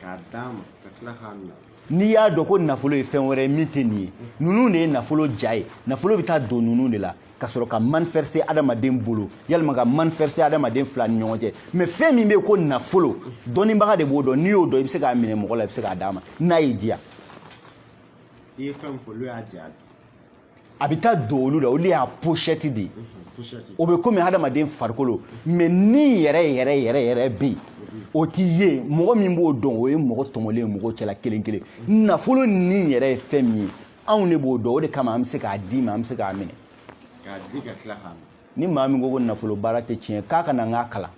k'a d'a ma ka tila k'a minɛ n'i y'a dɔn ko nafolo ye fɛn wɛrɛ ye min tɛ nin ye ninnu de ye nafolo ja ye nafolo bɛ taa don ninnu de la ka sɔrɔ ka manifester adamaden bolo yalima ka manifester adamaden fila ni ɲɔgɔn cɛ mɛ fɛn min bɛ yen ko nafolo dɔnnibaga de b'o dɔn n'i y'o dɔn i bɛ se k'a minɛ mɔgɔ la i bɛ se k'a d'a ma n'a y'i diya i ye fɛn fɔ olu y'a ja ye a bɛ taa don olu la olu y'a pochette de ye mhm, o bɛ komi hadamaden farikolo mɛ ni yɛrɛ yɛrɛ yɛrɛ yɛrɛ bɛ yen o t'i ye mɔgɔ min b'o dɔn o ye mɔgɔ tɔmɔlen ye mɔgɔw cɛla kelen kelen mhm. nafolo ni yɛrɛ ye fɛn min ye anw de b'o dɔn o de kama an bɛ se k'a d'i ma an bɛ se k'a minɛ ni maa min ko ko nafolo baara tɛ tiɲɛ k'a ka na n k'a kalan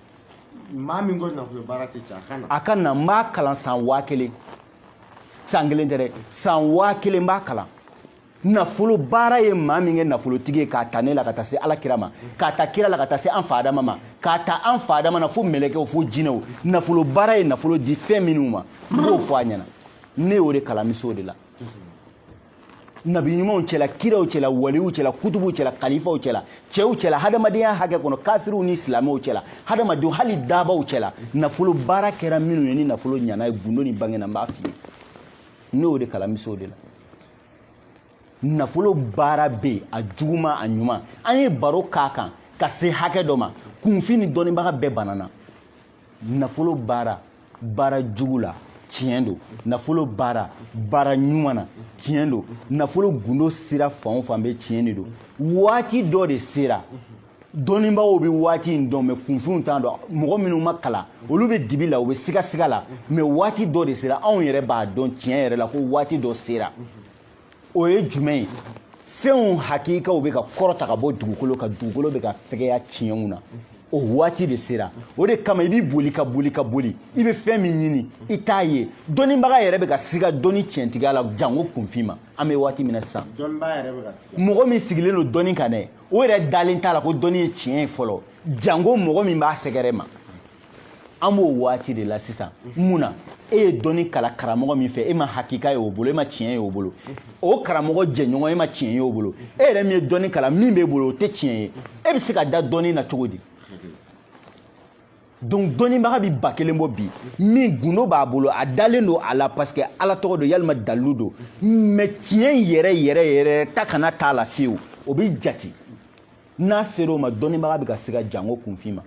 maa min ko nafolo baara tɛ tiɲɛ a ka na a ka na n b'a kalan san waa kelen san kelen tɛ dɛ san waa kelen n b'a kalan nafolo baara ye maa min kɛ nafolotigi ye k'a ta ne la ka taa se ala kira ma k'a ta kira la ka taa se an fa adama ma k'a ta an fa adama na fo mɛlɛkɛw fo jinɛw nafolo baara ye nafolo di fɛn minnu ma n b'o fɔ a ɲɛna ne y'o de kalan n bɛ s'o de la nabi ɲumanw cɛla kiraw cɛla waliw cɛla kutubuw cɛla kalifaw cɛla cɛw cɛla hadamadenya hakɛ kɔnɔ kafiriw ni silamɛw cɛla hadamadenw hali dabaw cɛla nafolo baara kɛra minnu ye ni nafolo ɲana ye gundo ni bange na n b'a f'i ye ne y'o de kalan n bɛ se o de la nafolo baara bɛ yen a juguman a ɲuman an ye baro k'a kan ka se hakɛ dɔ ma kunfin ni dɔnnibaga bɛɛ banana nafolo baara baara jugu la tiɲɛ don nafolo baara baara ɲuman na tiɲɛ don nafolo gundo sira fan o fan bɛɛ tiɲɛ de don waati dɔ de sera dɔnnibagaw bɛ waati in dɔn mɛ kunfinw t'a dɔn mɔgɔ minnu ma kalan olu bɛ dibi la u bɛ sigasiga la mɛ waati dɔ de sera anw yɛrɛ b'a dɔn tiɲɛ yɛrɛ la ko waati dɔ sera o ye jumɛn ye fɛnw hakikaw bɛ ka kɔrɔta ka bɔ dugukolo kan dugukolo bɛ ka fɛgɛya tiɲɛw na o waati de sera o de kama i b'i boli ka boli ka boli i bɛ fɛn min ɲini i t'a ye dɔnnibaga yɛrɛ bɛ ka siga dɔnni tiɲɛtigiya la janko kunfin ma an bɛ waati min na sisan mɔgɔ min sigilen don dɔnni kan dɛ o yɛrɛ dalen t'a la ko dɔnni ye tiɲɛ ye fɔlɔ janko mɔgɔ min b'a sɛgɛrɛ ma an b'o waati de la sisan mun na e ye dɔnni kalan karamɔgɔ min fɛ e ma hakika ye o bolo e ma tiɲɛ ye o bolo o karamɔgɔ jɛɲɔgɔn e ma tiɲɛ ye o bolo e yɛrɛ min ye dɔnni kalan min b'e bolo o tɛ tiɲɛ ye e bɛ se ka da dɔnni na cogo di donc dɔnnibaga bɛ ba kelen bɔ bi min gundo b'a bolo a dalen don a la parce que ala tɔgɔ don yalima dalilu don mɛ tiɲɛ yɛrɛ yɛrɛ yɛrɛ ta kana t'a la fiyewu o bɛ jati n'a sera o ma dɔnnibaga bɛ ka siga jango kunfin ma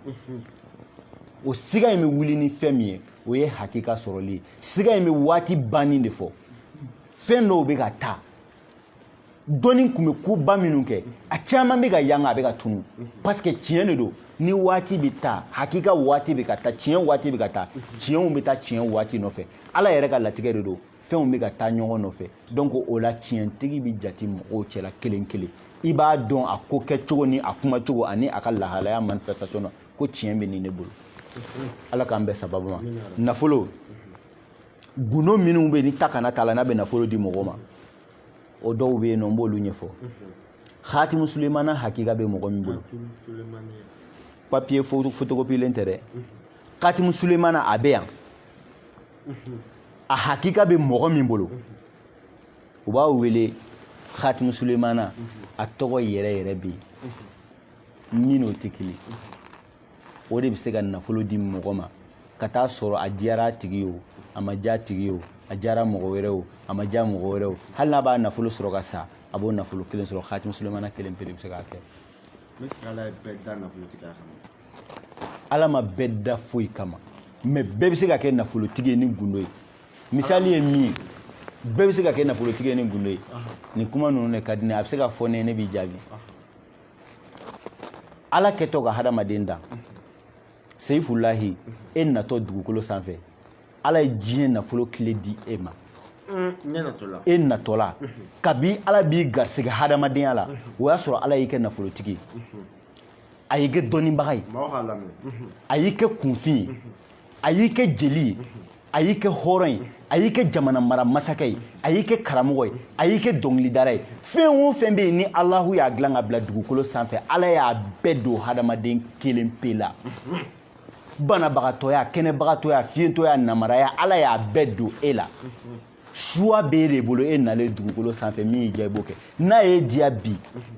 o siga in bɛ wuli ni fɛn min ye o ye hakika sɔrɔli ye siga in bɛ waati banni de fɔ fɛn dɔw bɛ ka taa dɔnni tun bɛ koba minnu kɛ a caman bɛ ka yanga a bɛ ka tunu parce que tiɲɛ de don ni waati bɛ taa hakika waati bɛ ka taa tiɲɛ waati bɛ ka taa tiɲɛw bɛ taa tiɲɛ waati nɔfɛ ala yɛrɛ ka latigɛ de don fɛnw bɛ ka taa ɲɔgɔn nɔfɛ donc o la tiɲɛtigi bɛ jate mɔgɔw cɛla kelen kelen i b'a dɔn a ko kɛcogo ni a kumacogo ani a ka lahalaya manifestation na ko tiɲɛ bɛ nin ne bolo ala k'an bɛn sababu ma nafolo gundo minnu bɛ yen ni ta kana t'a la n'a bɛ nafolo di mɔgɔ ma o dɔw bɛ yen nɔ n b'olu ɲɛfɔ hatimu sulemana hakika bɛ mɔgɔ min bolo papiye fotokopilen tɛ dɛ hatimu sulemana a bɛ yan a hakika bɛ mɔgɔ min bolo u b'a wele khatimu sulemana a tɔgɔ yɛrɛ yɛrɛ bɛ yen min n'o tɛ kelen o de bɛ se ka nafolo di mɔgɔ ma ka taa sɔrɔ a diyara a tigi ye o a ma diya a tigi ye o a diyara mɔgɔ wɛrɛ o a ma diya mɔgɔ wɛrɛ o hali n'a b'a nafolo sɔrɔ ka sa a b'o nafolo kelen sɔrɔ khatimu sulemana kelen pe de bɛ se k'a kɛ ala ma bɛɛ da foyi kama mais bɛɛ bɛ se ka kɛ nafolotigi ye ni gundo ye misali ye min ye bɛɛ bɛ se ka kɛ nafolotigi ye ni gundo ye nin kuma ninnu de ka di ne a bɛ se ka fɔ ne ye ne b'i jaabi ala kɛtɔ ka hadamaden dan seyifulahi e natɔ dugukolo sanfɛ ala ye diɲɛ nafolo tile di e ma e natɔla kabi ala b'i garisɛgɛ hadamadenya la o y'a sɔrɔ ala y'i kɛ nafolotigi a y'i kɛ dɔnnibaga ye a y'i kɛ kunfin ye a y'i kɛ jeli ye a y'i kɛ hɔrɔn ye a y'i kɛ jamana mara masakɛ ye a y'i kɛ karamɔgɔ ye a y'i kɛ dɔnkilidara ye fɛn o fɛn bɛ yen ni alahu y'a dilan ka bila dugukolo sanfɛ ala y'a bɛɛ don hadamaden kelen pe la banabagatɔya kɛnɛbagatɔya fiyentɔya namaraya ala y'a bɛɛ don e la choix b'e de bolo e nalen dugukolo sanfɛ min y'i diya i b'o kɛ n'a y'i diya bi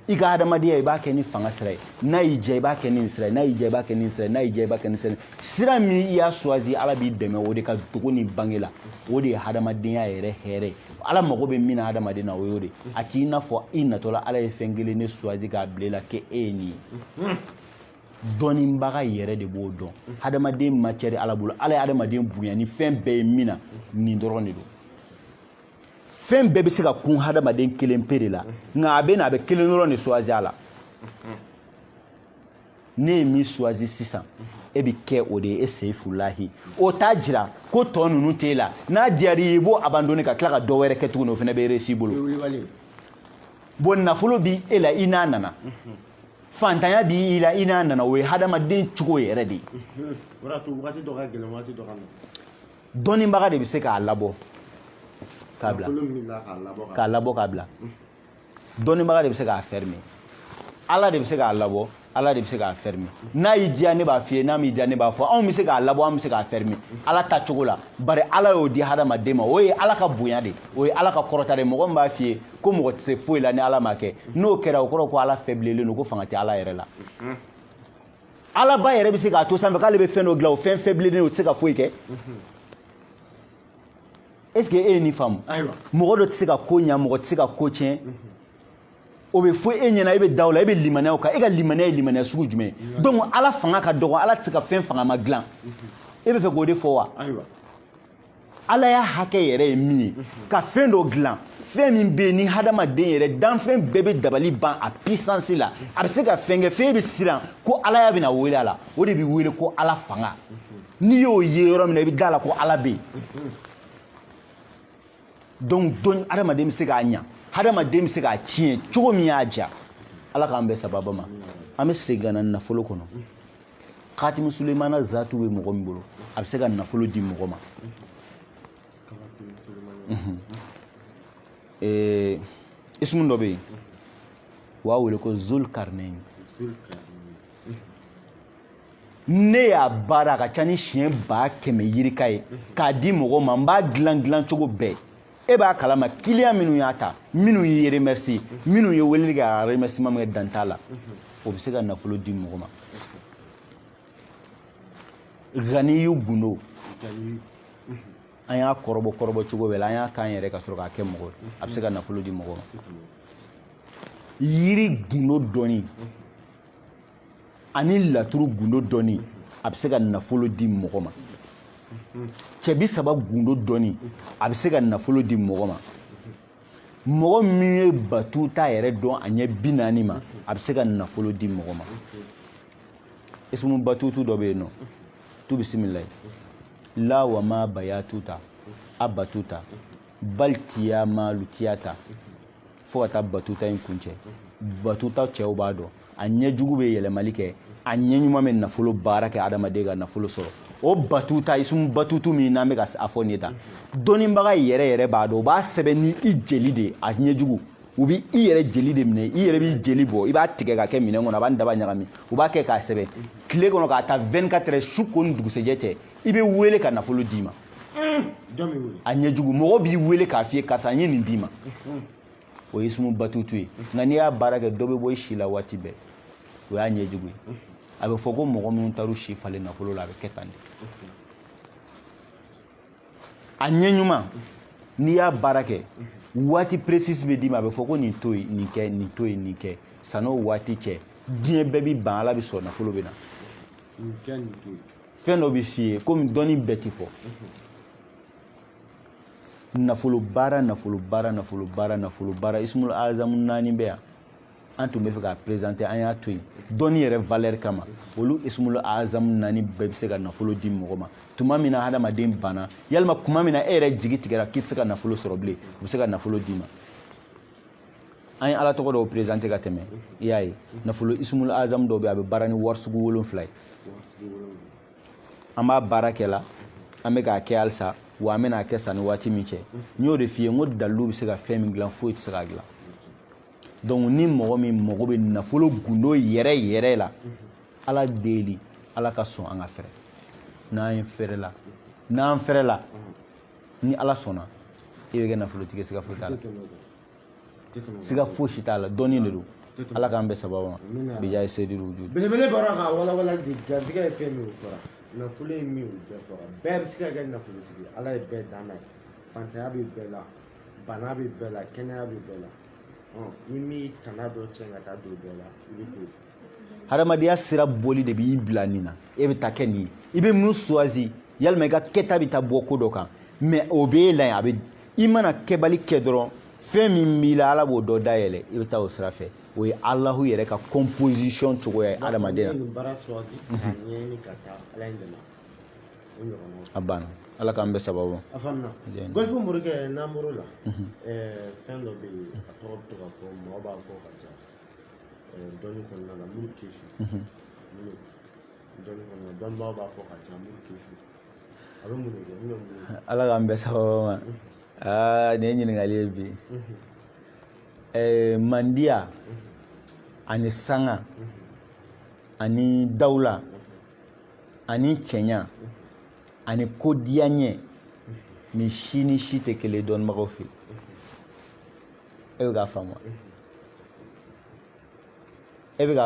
i ka hadamadenya i b'a kɛ ni fanga sira ye n'a y'i diya i b'a kɛ ni nin sira ye n'a y'i diya i b'a kɛ ni nin sira ye n'a y'i diya i b'a kɛ ni sira ye sira min i y'a choisi ala b'i dɛmɛ o de ka dogo ni bange la o de ye hadamadenya yɛrɛ hɛrɛ ye ala mago bɛ min na hadamaden na o y'o de a t'i n'a fɔ i natɔla ala ye fɛn kelen ne choisi k'a bila i la k'e ye nin ye dɔnnibaga yɛrɛ de b'o dɔn hadamaden macɛri ala bolo ala ye hadamaden bonya ni fɛn bɛɛ ye min na nin dɔrɔn de don fɛn bɛɛ bɛ se ka kun hadamaden kelen pe de la nka a bɛ na a bɛ kelen dɔrɔn de choisi a la ne ye min choisi sisan e bɛ kɛ o de ye e seyifulahi o t'a jira ko tɔ ninnu t'e la n'a diyar'i ye i b'o abandonner ka tila ka dɔ wɛrɛ kɛ tuguni o fana bɛ réussir i bolo bon nafolo bi e la i n'a nana fantanya b'i la i n'a nana o ye hadamaden cogo yɛrɛ de ye dɔnnibaga de bɛ se k'a labɔ k'a bila k'a labɔ k'a bila dɔnnibaga de bɛ se k'a fɛrime ala de bɛ se k'a labɔ ala de bɛ se k'a fɛrime n'a y'i diya ne b'a f'i ye n'a m'i diya ne b'a fɔ anw bɛ se k'a labɔ anw bɛ se k'a fɛrime ala ta cogo la bari ala y'o di hadamaden ma o ye ala ka bonya de o ye ala ka kɔrɔta de mɔgɔ min b'a f'i ye ko mɔgɔ tɛ se foyi la ni ala m'a kɛ n'o kɛra o kɔrɔ ko ala fɛbilelen don ko fanga tɛ ala yɛrɛ la ala ba yɛrɛ bɛ se k'a to sanfɛ k'ale bɛ fɛn dɔ dilan o fɛn fɛbilelen o tɛ se ka foyi kɛ est ce que e ye nin faamu mɔgɔ dɔ tɛ se ka ko ɲa mɔgɔ tɛ se ka ko tiɲɛ o bɛ fɔ e ɲɛna e bɛ da o la e bɛ limaniya o kan e ka limaniya ye limaniya sugu jumɛn ye donc ala fanga ka dɔgɔ ala tɛ se ka fɛn fangama dilan e bɛ fɛ k'o de fɔ wa alaya hakɛ yɛrɛ ye min ye ka fɛn dɔ dilan fɛn min bɛ yen ni hadamaden yɛrɛ danfɛn bɛɛ bɛ dabali ban a pisansi la a bɛ se ka fɛn kɛ fɛn bɛ siran ko alaya bɛna wele a la o de bɛ wele ko ala fanga n'i y'o ye yɔrɔ min na i bɛ da a la ko ala bɛ yen donc dɔn hadamaden bɛ se k'a ɲa hadamaden bɛ se k'a tiɲɛ cogo min y'a diya ala k'an bɛn sababa ma an bɛ segin ka na nafolo kɔnɔ khatimi sulemana zatu bɛ mɔgɔ min bolo a bɛ se ka nafolo di mɔgɔ ma mhm. eh, ismu dɔ bɛ yen u b'a wele ko zul karinayini ne y'a baara a ka ca ni siɲɛ ba kɛmɛ yirika ye k'a di mɔgɔ ma n b'a dilan dilan cogo bɛɛ e b'a kalama kiliyan minnu y'a ta minnu y'i remercier minnu ye weleli kɛ ka remerciement min kɛ dan t'a la o bɛ se ka nafolo di mɔgɔ ma ganiyu gundo an y'a kɔrɔbɔ kɔrɔbɔ cogo bɛɛ la an y'a k'an yɛrɛ ka sɔrɔ k'a kɛ mɔgɔ ye a bɛ se ka nafolo di mɔgɔ ma yiri gundo dɔnni ani laturu gundo dɔnni a bɛ se ka nafolo di mɔgɔ ma cɛ bi saba gundo dɔnni a bɛ se ka nafolo di mɔgɔ ma mɔgɔ min ye batuta yɛrɛ dɔn a ɲɛ bi naani ma a bɛ se ka nafolo di mɔgɔ ma ismu batutu dɔ bɛ yen nɔ tu bisimilayi la wa ma bayatuta a batuta baltiya ma lutiyata fo ka taa batuta in kuncɛ batuta cɛw b'a dɔn a ɲɛ jugu bɛ yɛlɛmali kɛ a ɲɛ ɲuman bɛ nafolo baara kɛ adamaden ka nafolo sɔrɔ o batuta isumu batutu min n'an bɛ ka a fɔ nin ye tan dɔnnibaga yɛrɛ yɛrɛ b'a dɔn u b'a sɛbɛn ni i jeli de ye a ɲɛ jugu u bɛ i yɛrɛ jeli de minɛ i yɛrɛ b'i jeli bɔ i b'a tigɛ k'a kɛ minɛn kɔnɔ a b'a ni daba ɲagami u b'a kɛ k'a sɛbɛn tile kɔnɔ k'a ta 24 heures su ko ni dugusɛjɛ cɛ i bɛ wele ka nafolo d'i ma a ɲɛjugu mɔgɔ b'i wele k'a f'i ye karisa n ye nin d'i ma o ye ismu batutu ye nka n'i y'a baara kɛ dɔ bɛ bɔ i si la waati bɛɛ o y'a ɲɛjugu ye a bɛ fɔ ko mɔgɔ minnu taar'u si falen nafolo la a bɛ kɛ tan de a ɲɛ ɲuman n'i y'a baara kɛ waati précise bɛ d'i ma a bɛ fɔ ko nin to yen nin kɛ nin to yen nin kɛ san'o waati cɛ diɲɛ bɛɛ bɛ ban ala bɛ sɔn nafolo bɛ na nin kɛ nin to yen fɛn dɔ bɛ f'i ye komi dɔnni bɛɛ ti fɔ nafolo baara nafolo ismul azamu naani bɛ yan an tun bɛ fɛ k'a prezante an y'a to yen dɔnni yɛrɛ valɛri kama olu ismul azamu naani bɛɛ bɛ se ka nafolo di mɔgɔ ma tuma min na hadamaden banna yalima kuma min na e yɛrɛ jigi tigɛra k'i tɛ se ka nafolo sɔrɔ bilen u bɛ se ka nafolo d'i ma an ye ala tɔgɔ dɔw perezante ka tɛmɛ i y'a ye nafolo ismul azamu dɔw bɛ a bɛ baara ni wari sugu wolonfila ye an b'a baara kɛ la an bɛ k'a kɛ halisa wa an bɛna a kɛ sanni waati min cɛ n y'o de f'i ye n ko dalilu bɛ se ka fɛn min dilan foyi tɛ se k'a dilan donc ni mɔgɔ min mago bɛ nafolo gundo yɛrɛ yɛrɛ la ala deli ala ka sɔn an ka fɛrɛ n'an fɛrɛla n'an fɛrɛla ni ala sɔnna i bɛ kɛ nafolotigi siga foyi t'a la siga fosi t'a la dɔnni de don ala k'an bɛɛ sababu ma bija ye seyidu wujudi belebele bɔra ka walawala de garijɛgɛ ye fɛn min ye fɔra nafolo ye min ye o bɛɛ fɔra bɛɛ bɛ se ka kɛ nafolotigi ye ala ye bɛɛ dan n'a ye fantanya bɛ bɛɛ la bana bɛ bɛɛ la kɛnɛya bɛ bɛɛ la ni min tana dɔ cɛn ka taa don bɛɛ la i bɛ to yen hadamadenya sira boli de b'i bila nin na e bɛ taa kɛ nin ye i bɛ mun suwazi yalima i ka kɛta bɛ taa bɔ ko dɔ kan mais o b'e la yen a bɛ i mana kɛbali kɛ dɔrɔn fɛn min b'i la ala b'o dɔ dayɛlɛ i bɛ taa o sira fɛ o ye alahu yɛrɛ ka composition cogoya ye hadamadenya a banna ala k'an bɛɛ sababu a faamuna gɔlifu morikɛ n'an bɔr'o la fɛn dɔ bɛ yen a tɔgɔ bɛ to ka fɔ mɔgɔ b'a fɔ ka ca dɔnni kɔnɔna la muru kesu dɔnni kɔnɔna la dɔnnibaaw b'a fɔ ka ca muru kesu a bɛ mun de kɛ min bɛ mun ala k'an bɛɛ sababu ma aa nin ye ɲininkali ye bi ɛɛ mandiya ani sanga ani dawula ani cɛɲa ani kodiyaɲɛ nin si ni si tɛ kelen ye dɔnnibagaw fɛ yen e bɛ k'a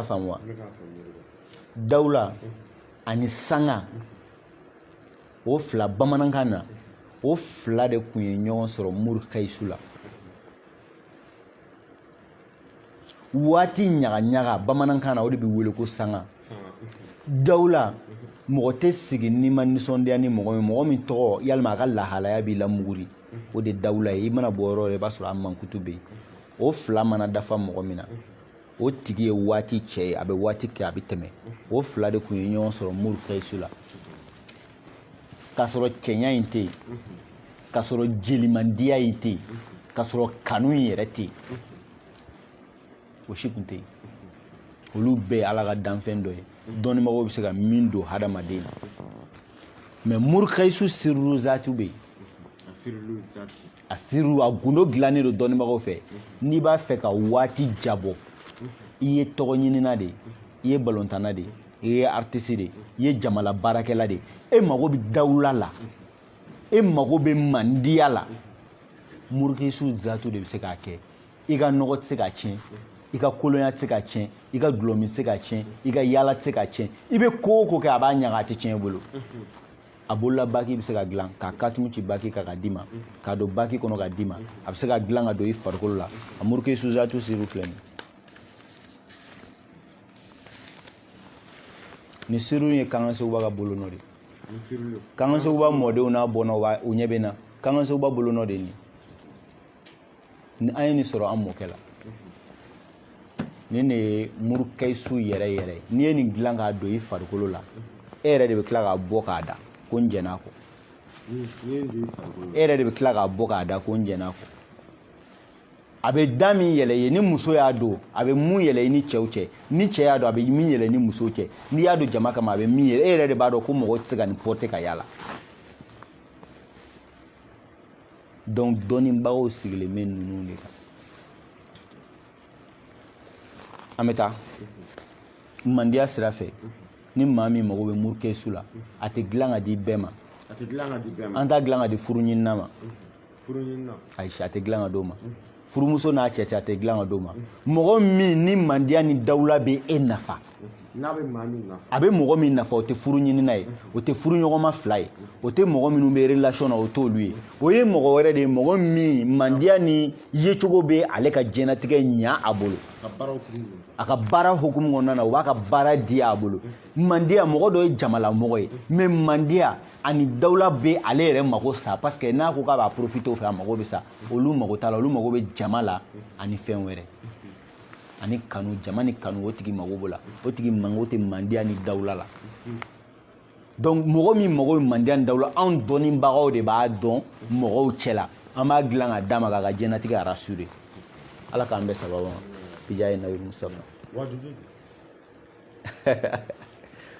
faamu wa dawula ani sanga o fila bamanankan na o fila de tun ye ɲɔgɔn sɔrɔ murukayisu la waati ɲagaɲaga bamanankan na o de bɛ wele ko sanga dawula mɔgɔ tɛ sigi n'i ma nisɔndiya ni mɔgɔ min mɔgɔ min tɔgɔ yalima a ka lahalaya b'i lamuguri o de dawula ye i mana bɔ yɔrɔ yɔrɔ i b'a sɔrɔ a mankutu bɛ yen o fila mana dafa mɔgɔ min na o tigi ye waati cɛ ye a bɛ waati kɛ a bɛ tɛmɛ o fila de tun ye ɲɔgɔn sɔrɔ murukayisu la k'a sɔrɔ cɛɲa in tɛ yen k'a sɔrɔ jelimandiya in tɛ yen k'a sɔrɔ kanu in yɛrɛ tɛ yen o si tun tɛ yen olu bɛɛ ye ala ka danfɛn dɔ ye dɔnnibagaw bɛ se ka min don hadamaden na mais murukayisu siru zatu bɛ yen a sirilu a gundo dilannen don dɔnnibagaw fɛ n'i b'a fɛ ka waati jabɔ i ye tɔgɔ ɲinina de i ye balontanna de i ye aritisi de i ye jamala baarakɛla de e mago bɛ dawula la e mago bɛ mandiya la murukayisu zatu de bɛ se k'a kɛ i ka nɔgɔ tɛ se k'a tiɲɛ i ka kolonya tɛ se k'a tiɲɛ i ka dulɔmi tɛ se k'a tiɲɛ i ka yaala tɛ se k'a tiɲɛ i bɛ ko o ko kɛ a b'a ɲaga a tɛ tiɲɛ i bolo a bolola baki bɛ se ka dilan k'a katumu ci baki kan ka d'i ma k'a don baki kɔnɔ ka d'i ma a bɛ se ka dilan ka don i farikolo la a murukayisu zatu siriw filɛ nin nin siriw ye kankan sekuba ka bolo nɔ de kankan sekuba mɔdenw n'a bɔnnaw u ɲɛ bɛ n na kankan sekuba bolo nɔ de ye nin ni an ye nin sɔrɔ an mɔkɛ la nin de ye murukayisu yɛrɛ yɛrɛ n'i ye nin dilan k'a don i farikolo la e yɛrɛ de bɛ tila k'a bɔ k'a da ko n jɛn'a kɔ e yɛrɛ de bɛ tila k'a bɔ k'a da ko n jɛn'a kɔ a bɛ da min yɛlɛ i ye ni muso y'a don a bɛ mun yɛlɛ i ni cɛw cɛ ni cɛ y'a don a bɛ min yɛlɛ ni muso cɛ n'i y'a don jama kama a bɛ min yɛlɛ e yɛrɛ de b'a dɔn ko mɔgɔ tɛ se ka nin porter ka yaala donc dɔnnibagaw sigilen bɛ ninnu de kan an bɛ taa mandiya sira fɛ ni maa min mago bɛ murukayisu la a tɛ dilan ka di bɛɛ ma an t'a dilan ka di furu ɲinina ma ayi a tɛ dilan ka di o ma furumuso n'a cɛ cɛ a tɛ dilan ka d'o ma mɔgɔ min ni mandiya ni dawula bɛ e nafa a bɛ mɔgɔ min nafa o tɛ furu ɲinina ye o tɛ furu ɲɔgɔnma fila ye o tɛ mɔgɔ minnu bɛ relation na o t'olu ye o ye mɔgɔ wɛrɛ de ye mɔgɔ min mandiya ni yecogo bɛ ale ka diɲɛnatigɛ ɲa a bolo a ka baara hukumu kɔnɔna na o b'a ka baara di a bolo mandiya mɔgɔ dɔ ye jamalamɔgɔ ye mais mandiya ani dawula bɛ ale yɛrɛ mako sa parce que n'a ko k'a b'a profiter o fɛ a mako bɛ sa olu mago t'a la olu mago bɛ jama la ani fɛn wɛrɛ ani kanu jama ni kanu o tigi mago b'o la o tigi mago tɛ mandiya ni dawula la donc mɔgɔ min mago bɛ mandiya ni dawula anw dɔnnibagaw de b'a dɔn mɔgɔw cɛ la an b'a dilan ka d'a ma k'a ka diɲɛnatigɛ rassurer ala k'an bɛɛ sababu ma bijahi nabi musitafa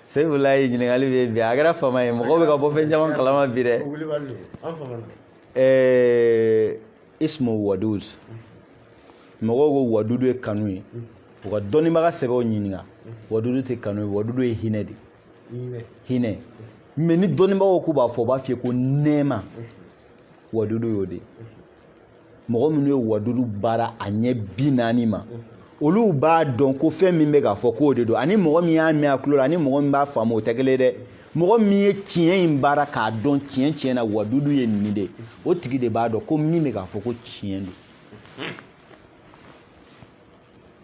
sefulayi ɲininkali bɛ bi a kɛra fama ye mɔgɔw bɛ ka bɔ fɛn caman kalama bi dɛ ɛɛ ismu wadud mɔgɔw ko wadudu ye kanu ye u ka dɔnnibaga sɛbɛw ɲininka wadudu tɛ kanu ye wadudu ye hinɛ de hinɛ mais ni dɔnnibagaw k'u b'a fɔ u b'a f'i ye ko nɛɛma wadudu y'o de mɔgɔ minnu ye wadudu baara a ɲɛ bi naani ma olu b'a dɔn ko fɛn min bɛ ka fɔ k'o de don ani mɔgɔ min y'a mɛn a tulo la ani mɔgɔ min b'a faamu o tɛ kelen dɛ mɔgɔ min ye tiɲɛ in baara k'a dɔn tiɲɛ tiɲɛ na wadudu ye nin de o tigi de b'a dɔn ko min bɛ ka fɔ ko tiɲɛ don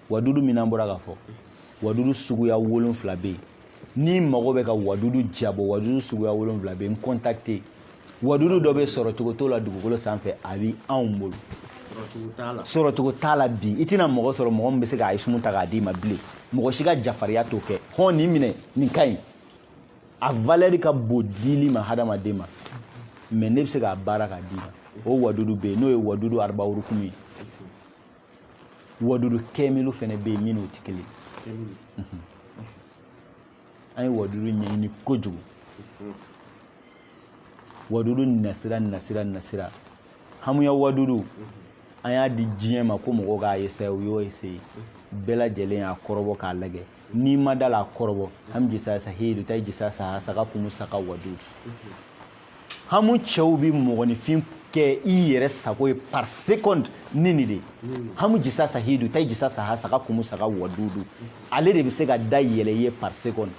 wadudu min n'an bɔra k'a fɔ wadudu suguya wolonfila bɛ yen n'i mago bɛ ka wadudu jabɔ wadudu suguya wolonfila bɛ yen n contacter wadudu dɔ bɛ sɔrɔcogo t'o la dugukolo sanfɛ a bɛ anw bolo sɔrɔcogo t'a la bi i tɛna mɔgɔ sɔrɔ mɔgɔ min bɛ se k'a isumu ta k'a d'i ma bilen mɔgɔ si ka jafariya t'o kɛ hɔn nin minɛ nin ka ɲi a valɛri ka bon dili ma hadamaden ma mais ne bɛ se k'a baara k'a d'i ma o wadudu bɛ yen n'o ye wadudu arabawurukumu ye wadudu kɛmɛlu fɛnɛ bɛ yen min n'o tɛ kelen an ye wadudu ɲɛɲini kojugu wadudu nasira nasira nasira hamuya wadudu an y'a di diɲɛ ma ko mɔgɔw k'a essayer u y'o essayer bɛɛ lajɛlen y'a kɔrɔbɔ k'a lajɛ n'i ma da a la a kɔrɔbɔ hamu jisa sahidu tayi jisa sa saga kumu saga wadudu hamu cɛw bɛ mɔgɔninfin kɛ i yɛrɛ sago ye par seconde ni nin de hamu jisa sahidu tayi jisa sa saga kumu saga wadudu ale de bɛ se ka da yɛlɛ i ye par seconde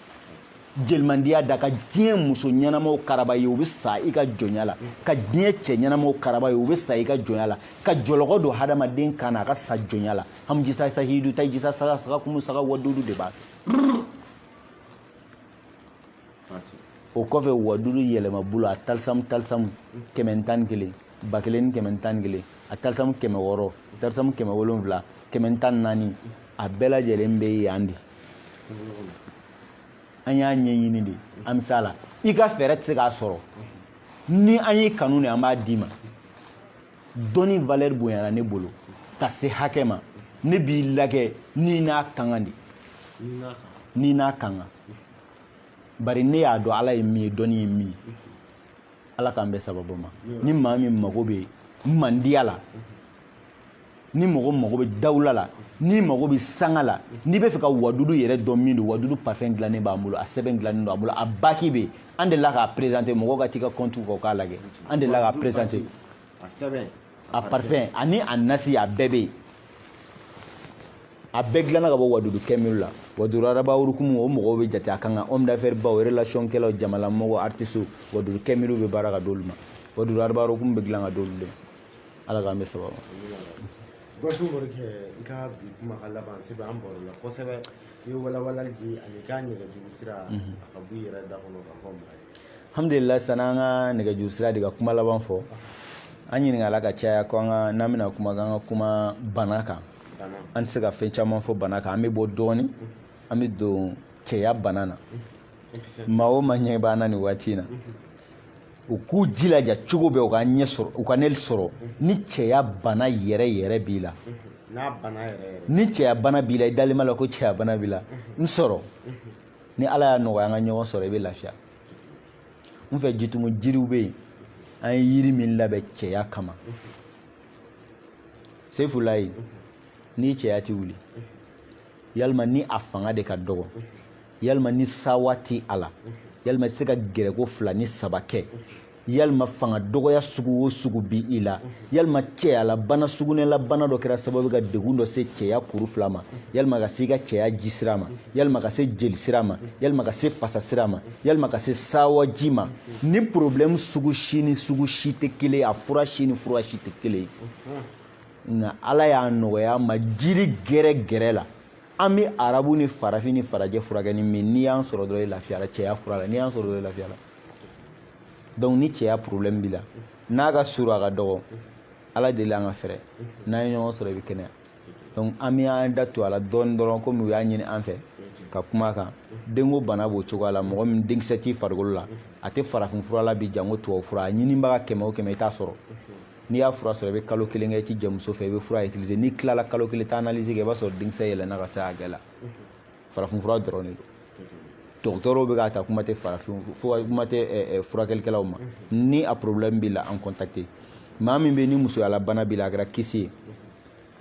jelimandiya da ka diɲɛ muso ɲɛnamaw karaba i ye u bɛ sa i ka jɔnya la ka diɲɛ cɛ ɲɛnamaw karaba i ye u bɛ sa i ka jɔnya la ka jɔlɔkɔ don hadamaden kan na a ka sa jɔnya la hamjisa sahidu taijisa saga saga kumu saga wadudu de b'a kɛ o kɔfɛ wadudu yɛlɛma bolo a talisamu talisamu kɛmɛ tan ni kelen ba kelen ni kɛmɛ tan ni kelen a talisamu kɛmɛ wɔɔrɔ talisamu kɛmɛ wolonfila kɛmɛ tan ni naani a bɛɛ lajɛlen bɛ yan de an y'a ɲɛɲini de an bɛ s'a la i ka fɛɛrɛ tɛ se k'a sɔrɔ ni an y'i kanu de an b'a d'i ma dɔnni valeur bonyana ne bolo ka se hakɛ ma ne b'i lagɛ n'i n'a ka kan de n'i n'a ka kan bari ne y'a dɔn ala ye min ye dɔnni ye min ye ala k'an bɛn sababu ma ni maa min mago bɛ mandiya la ni mɔgɔ mago bɛ dawula la n'i mago bɛ sanga la n'i b'a fɛ ka wadudu yɛrɛ dɔn min don wadudu parfum dilannen b'an bolo a sɛbɛn dilannen don an bolo a baki bɛ yen an delila k'a prezante mɔgɔw ka t'i ka kɔntiw kɔ k'a lajɛ an delila k'a prezante a parfum ani a nasi a bɛɛ bɛ yen a bɛɛ dilanna ka bɔ wadudu kɛmiru la wadudu araba hukumu o mɔgɔw bɛ jate a ka kan homme d'affaires baw relation kɛlaw jamalamɔgɔ artistes wadudu kɛmiru bɛ baara ka d'olu ma wadudu araba hukumu bɛ dilan ka d'olu de ma ala k'an bɛn sababu basi baro kɛ i ka bi kumakan laban sabu an barola kosɛbɛ i ye walawalali di ani i ka nɛgɛjuru sira a ka b'i yɛrɛ da kɔnɔ ka fɔ maa ye alhamdulillah sani an ka nɛgɛjuru sira di ka kuma laban fɔ an ɲininkala ka caya ko n'an bɛna kuma k'an ka kuma bana kan an tɛ se ka fɛn caman fɔ bana kan an bɛ bɔ dɔɔni an bɛ don cɛya bana na maa o maa ɲɛ b'an na nin waati in na u k'u jilaja cogo bɛɛ u ka ɲɛ sɔrɔ u ka ne sɔrɔ ni cɛya bana yɛrɛ yɛrɛ b'i la ni cɛya bana b'i la i dalen b'a la ko cɛya bana b'i la n sɔrɔ ni ala y'a nɔgɔya an ka ɲɔgɔn sɔrɔ i bɛ lafiya n fɛ jitumu jiriw bɛ yen an ye yiri min labɛn cɛya kama sefulayi n'i cɛya tɛ wuli yalima ni a fanga de ka dɔgɔ yalima ni sawa tɛ a la yalima i tɛ se ka gɛrɛko fila ni saba kɛ yalima fanga dɔgɔya sugu o sugu bi i la yalima cɛyalabana sugunɛlabana dɔ kɛra sababu ka degun dɔ se cɛya kuru fila ma yalima ka se i ka cɛya ji sira ma yalima ka se jeli sira ma yalima ka se fasa sira ma yalima ka se sawaji ma ni problɛmu sugu si ni sugu si tɛ kelen ye a fura si ni fura si tɛ kelen ye nka ala y'a nɔgɔya an ma jiri gɛrɛ gɛrɛ la an bɛ arabu ni farafin ni farajɛ furakɛ ni min n'i y'an sɔrɔ dɔrɔn i lafiyara cɛya fura la n'i y'an sɔrɔ dɔrɔn i lafiyara donc ni cɛya problème b'i la n'a ka surun a ka dɔgɔ ala deli an ka fɛrɛ n'an ye ɲɔgɔn sɔrɔ i bɛ kɛnɛya donc an bɛ an da don a la dɔɔni dɔrɔn komi u y'a ɲini an fɛ ka kuma a kan denko bana b'o cogoya la mɔgɔ min denkisɛ t'i farikolo la a tɛ farafinfura la bi janko tubabufura a ɲinibaga kɛmɛ o kɛmɛ i t'a sɔrɔ n'i y'a fura sɔrɔ i bɛ kalo kelen kɛ i ti jɛ muso fɛ i bɛ fura utiliser n'i tilala kalo kelen taa analyse kɛ i b'a sɔrɔ denkisɛ yɛlɛnna ka se hakɛ la farafinfura dɔrɔn de don dɔgɔtɔrɔw bɛ k'a ta kuma tɛ farafin kuma tɛ eh, eh, furakɛlikɛlaw ma ni a problème b'i la an contacter maa min bɛ ni musoyalabana b'i la a kɛra kyste ye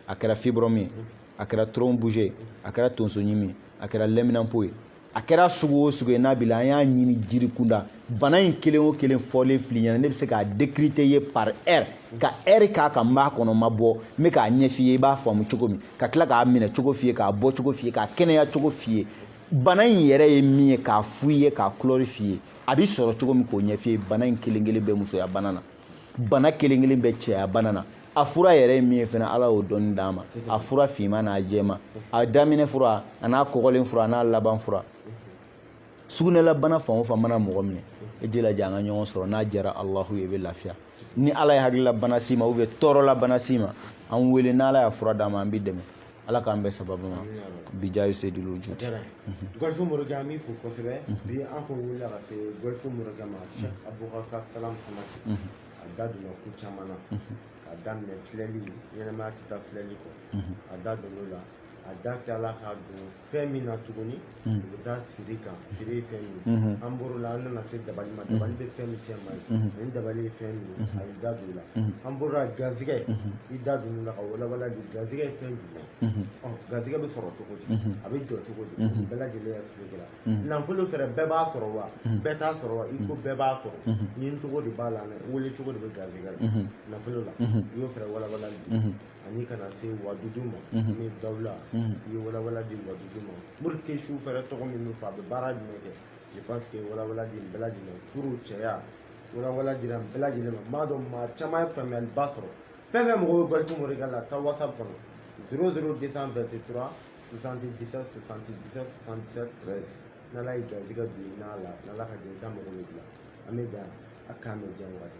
a kɛra fibrome ye a kɛra trompe bouchée ye a kɛra tonsoɲimi ye a kɛra lɛminanpo ye a kɛra sugu o sugu ye n'a b'i la an y'a ɲini jiri kunda bana in kelen o kelen fɔlen fil'i ɲɛ na ne bɛ se k'a décrypter ye par heure ka heure k'a kan n b'a kɔnɔ ma bɔ n bɛ k'a ɲɛf'i ye i b'a faamu cogo min ka tila k'a minɛ cogo f'i ye k'a bɔ cogo f'i ye k'a kɛnɛya cogo f'i ye bana in yɛrɛ ye min ye k'a f'i ye k'a kulɔri f'i ye a bɛ sɔrɔ cogo min k'o ɲɛf'i ye bana in kelen kelen bɛ musoya bana na bana kelen kelen bɛ cɛya bana na a fura yɛrɛ ye min ye fana ala y'o dɔnni d'an ma a fura finman n'a jɛma a daminɛ fura a n'a kɔgɔlen fura a n'a laban fura sugunɛlabana fan o fan mana mɔgɔ minɛ i jilaja an ka ɲɔgɔn sɔrɔ n'a diyara alahu ye i bɛ lafiya ni ala ye hakililabana s'i ma ou bien tɔɔrɔlabana s'i ma an wele n'ala y'a fura d'an ma an b'i dɛmɛ ala k'an bɛɛ sababu ma bijahi seyidil wujud gɔlifu morikɛ an b'i fo kosɛbɛ bi an kun wulila ka se gɔlifu morikɛ ma cheikh abubakar salam hamati a da donna ko caman na ka daminɛ filɛli ɲɛnamaya tɛ taa filɛli kɔ a da donn'o la a da tilala ka don fɛn min na tuguni o bɛ taa siri kan siri ye fɛn min ye an bɔr'o la an nana se dabali ma dabali bɛ fɛn min kɛ maa ye ani dabali ye fɛn min ye a y'i da don o la an bɔr'o la garizigɛ i da don o la ka walawala de garizigɛ ye fɛn jumɛn ye ɔ garizigɛ bɛ sɔrɔ cogo di a bɛ jɔ cogo di bɛɛ lajɛlen y'a expliqué la nafolo fɛnɛ bɛɛ b'a sɔrɔ wa bɛɛ t'a sɔrɔ wa i ko bɛɛ b'a sɔrɔ ɲini cogo de b'a la wele cogo de bɛ garizigɛ la nafolo la i y'o fɛnɛ walawala di ani ka na se wadudu ma ni dawula i ye walawala di wadudu ma pour que su fɛrɛ tɔgɔ min fɔ a bɛ baara jumɛn kɛ je pense que walawala di bɛɛ lajɛlen furu cɛya walawala dira bɛɛ lajɛlen ma n b'a dɔn maa caman ye faamuyaliba sɔrɔ fɛn fɛn mɔgɔw bɛ gɔlifu morikɛ la taa whatsapp kɔnɔ 00 223 77 77 77 13 n'ala y'i garijɛgɛ don i n'a la n'ala ka jɛ i ka mago bɛ dilan an bɛ dan a kan bɛ diya wagati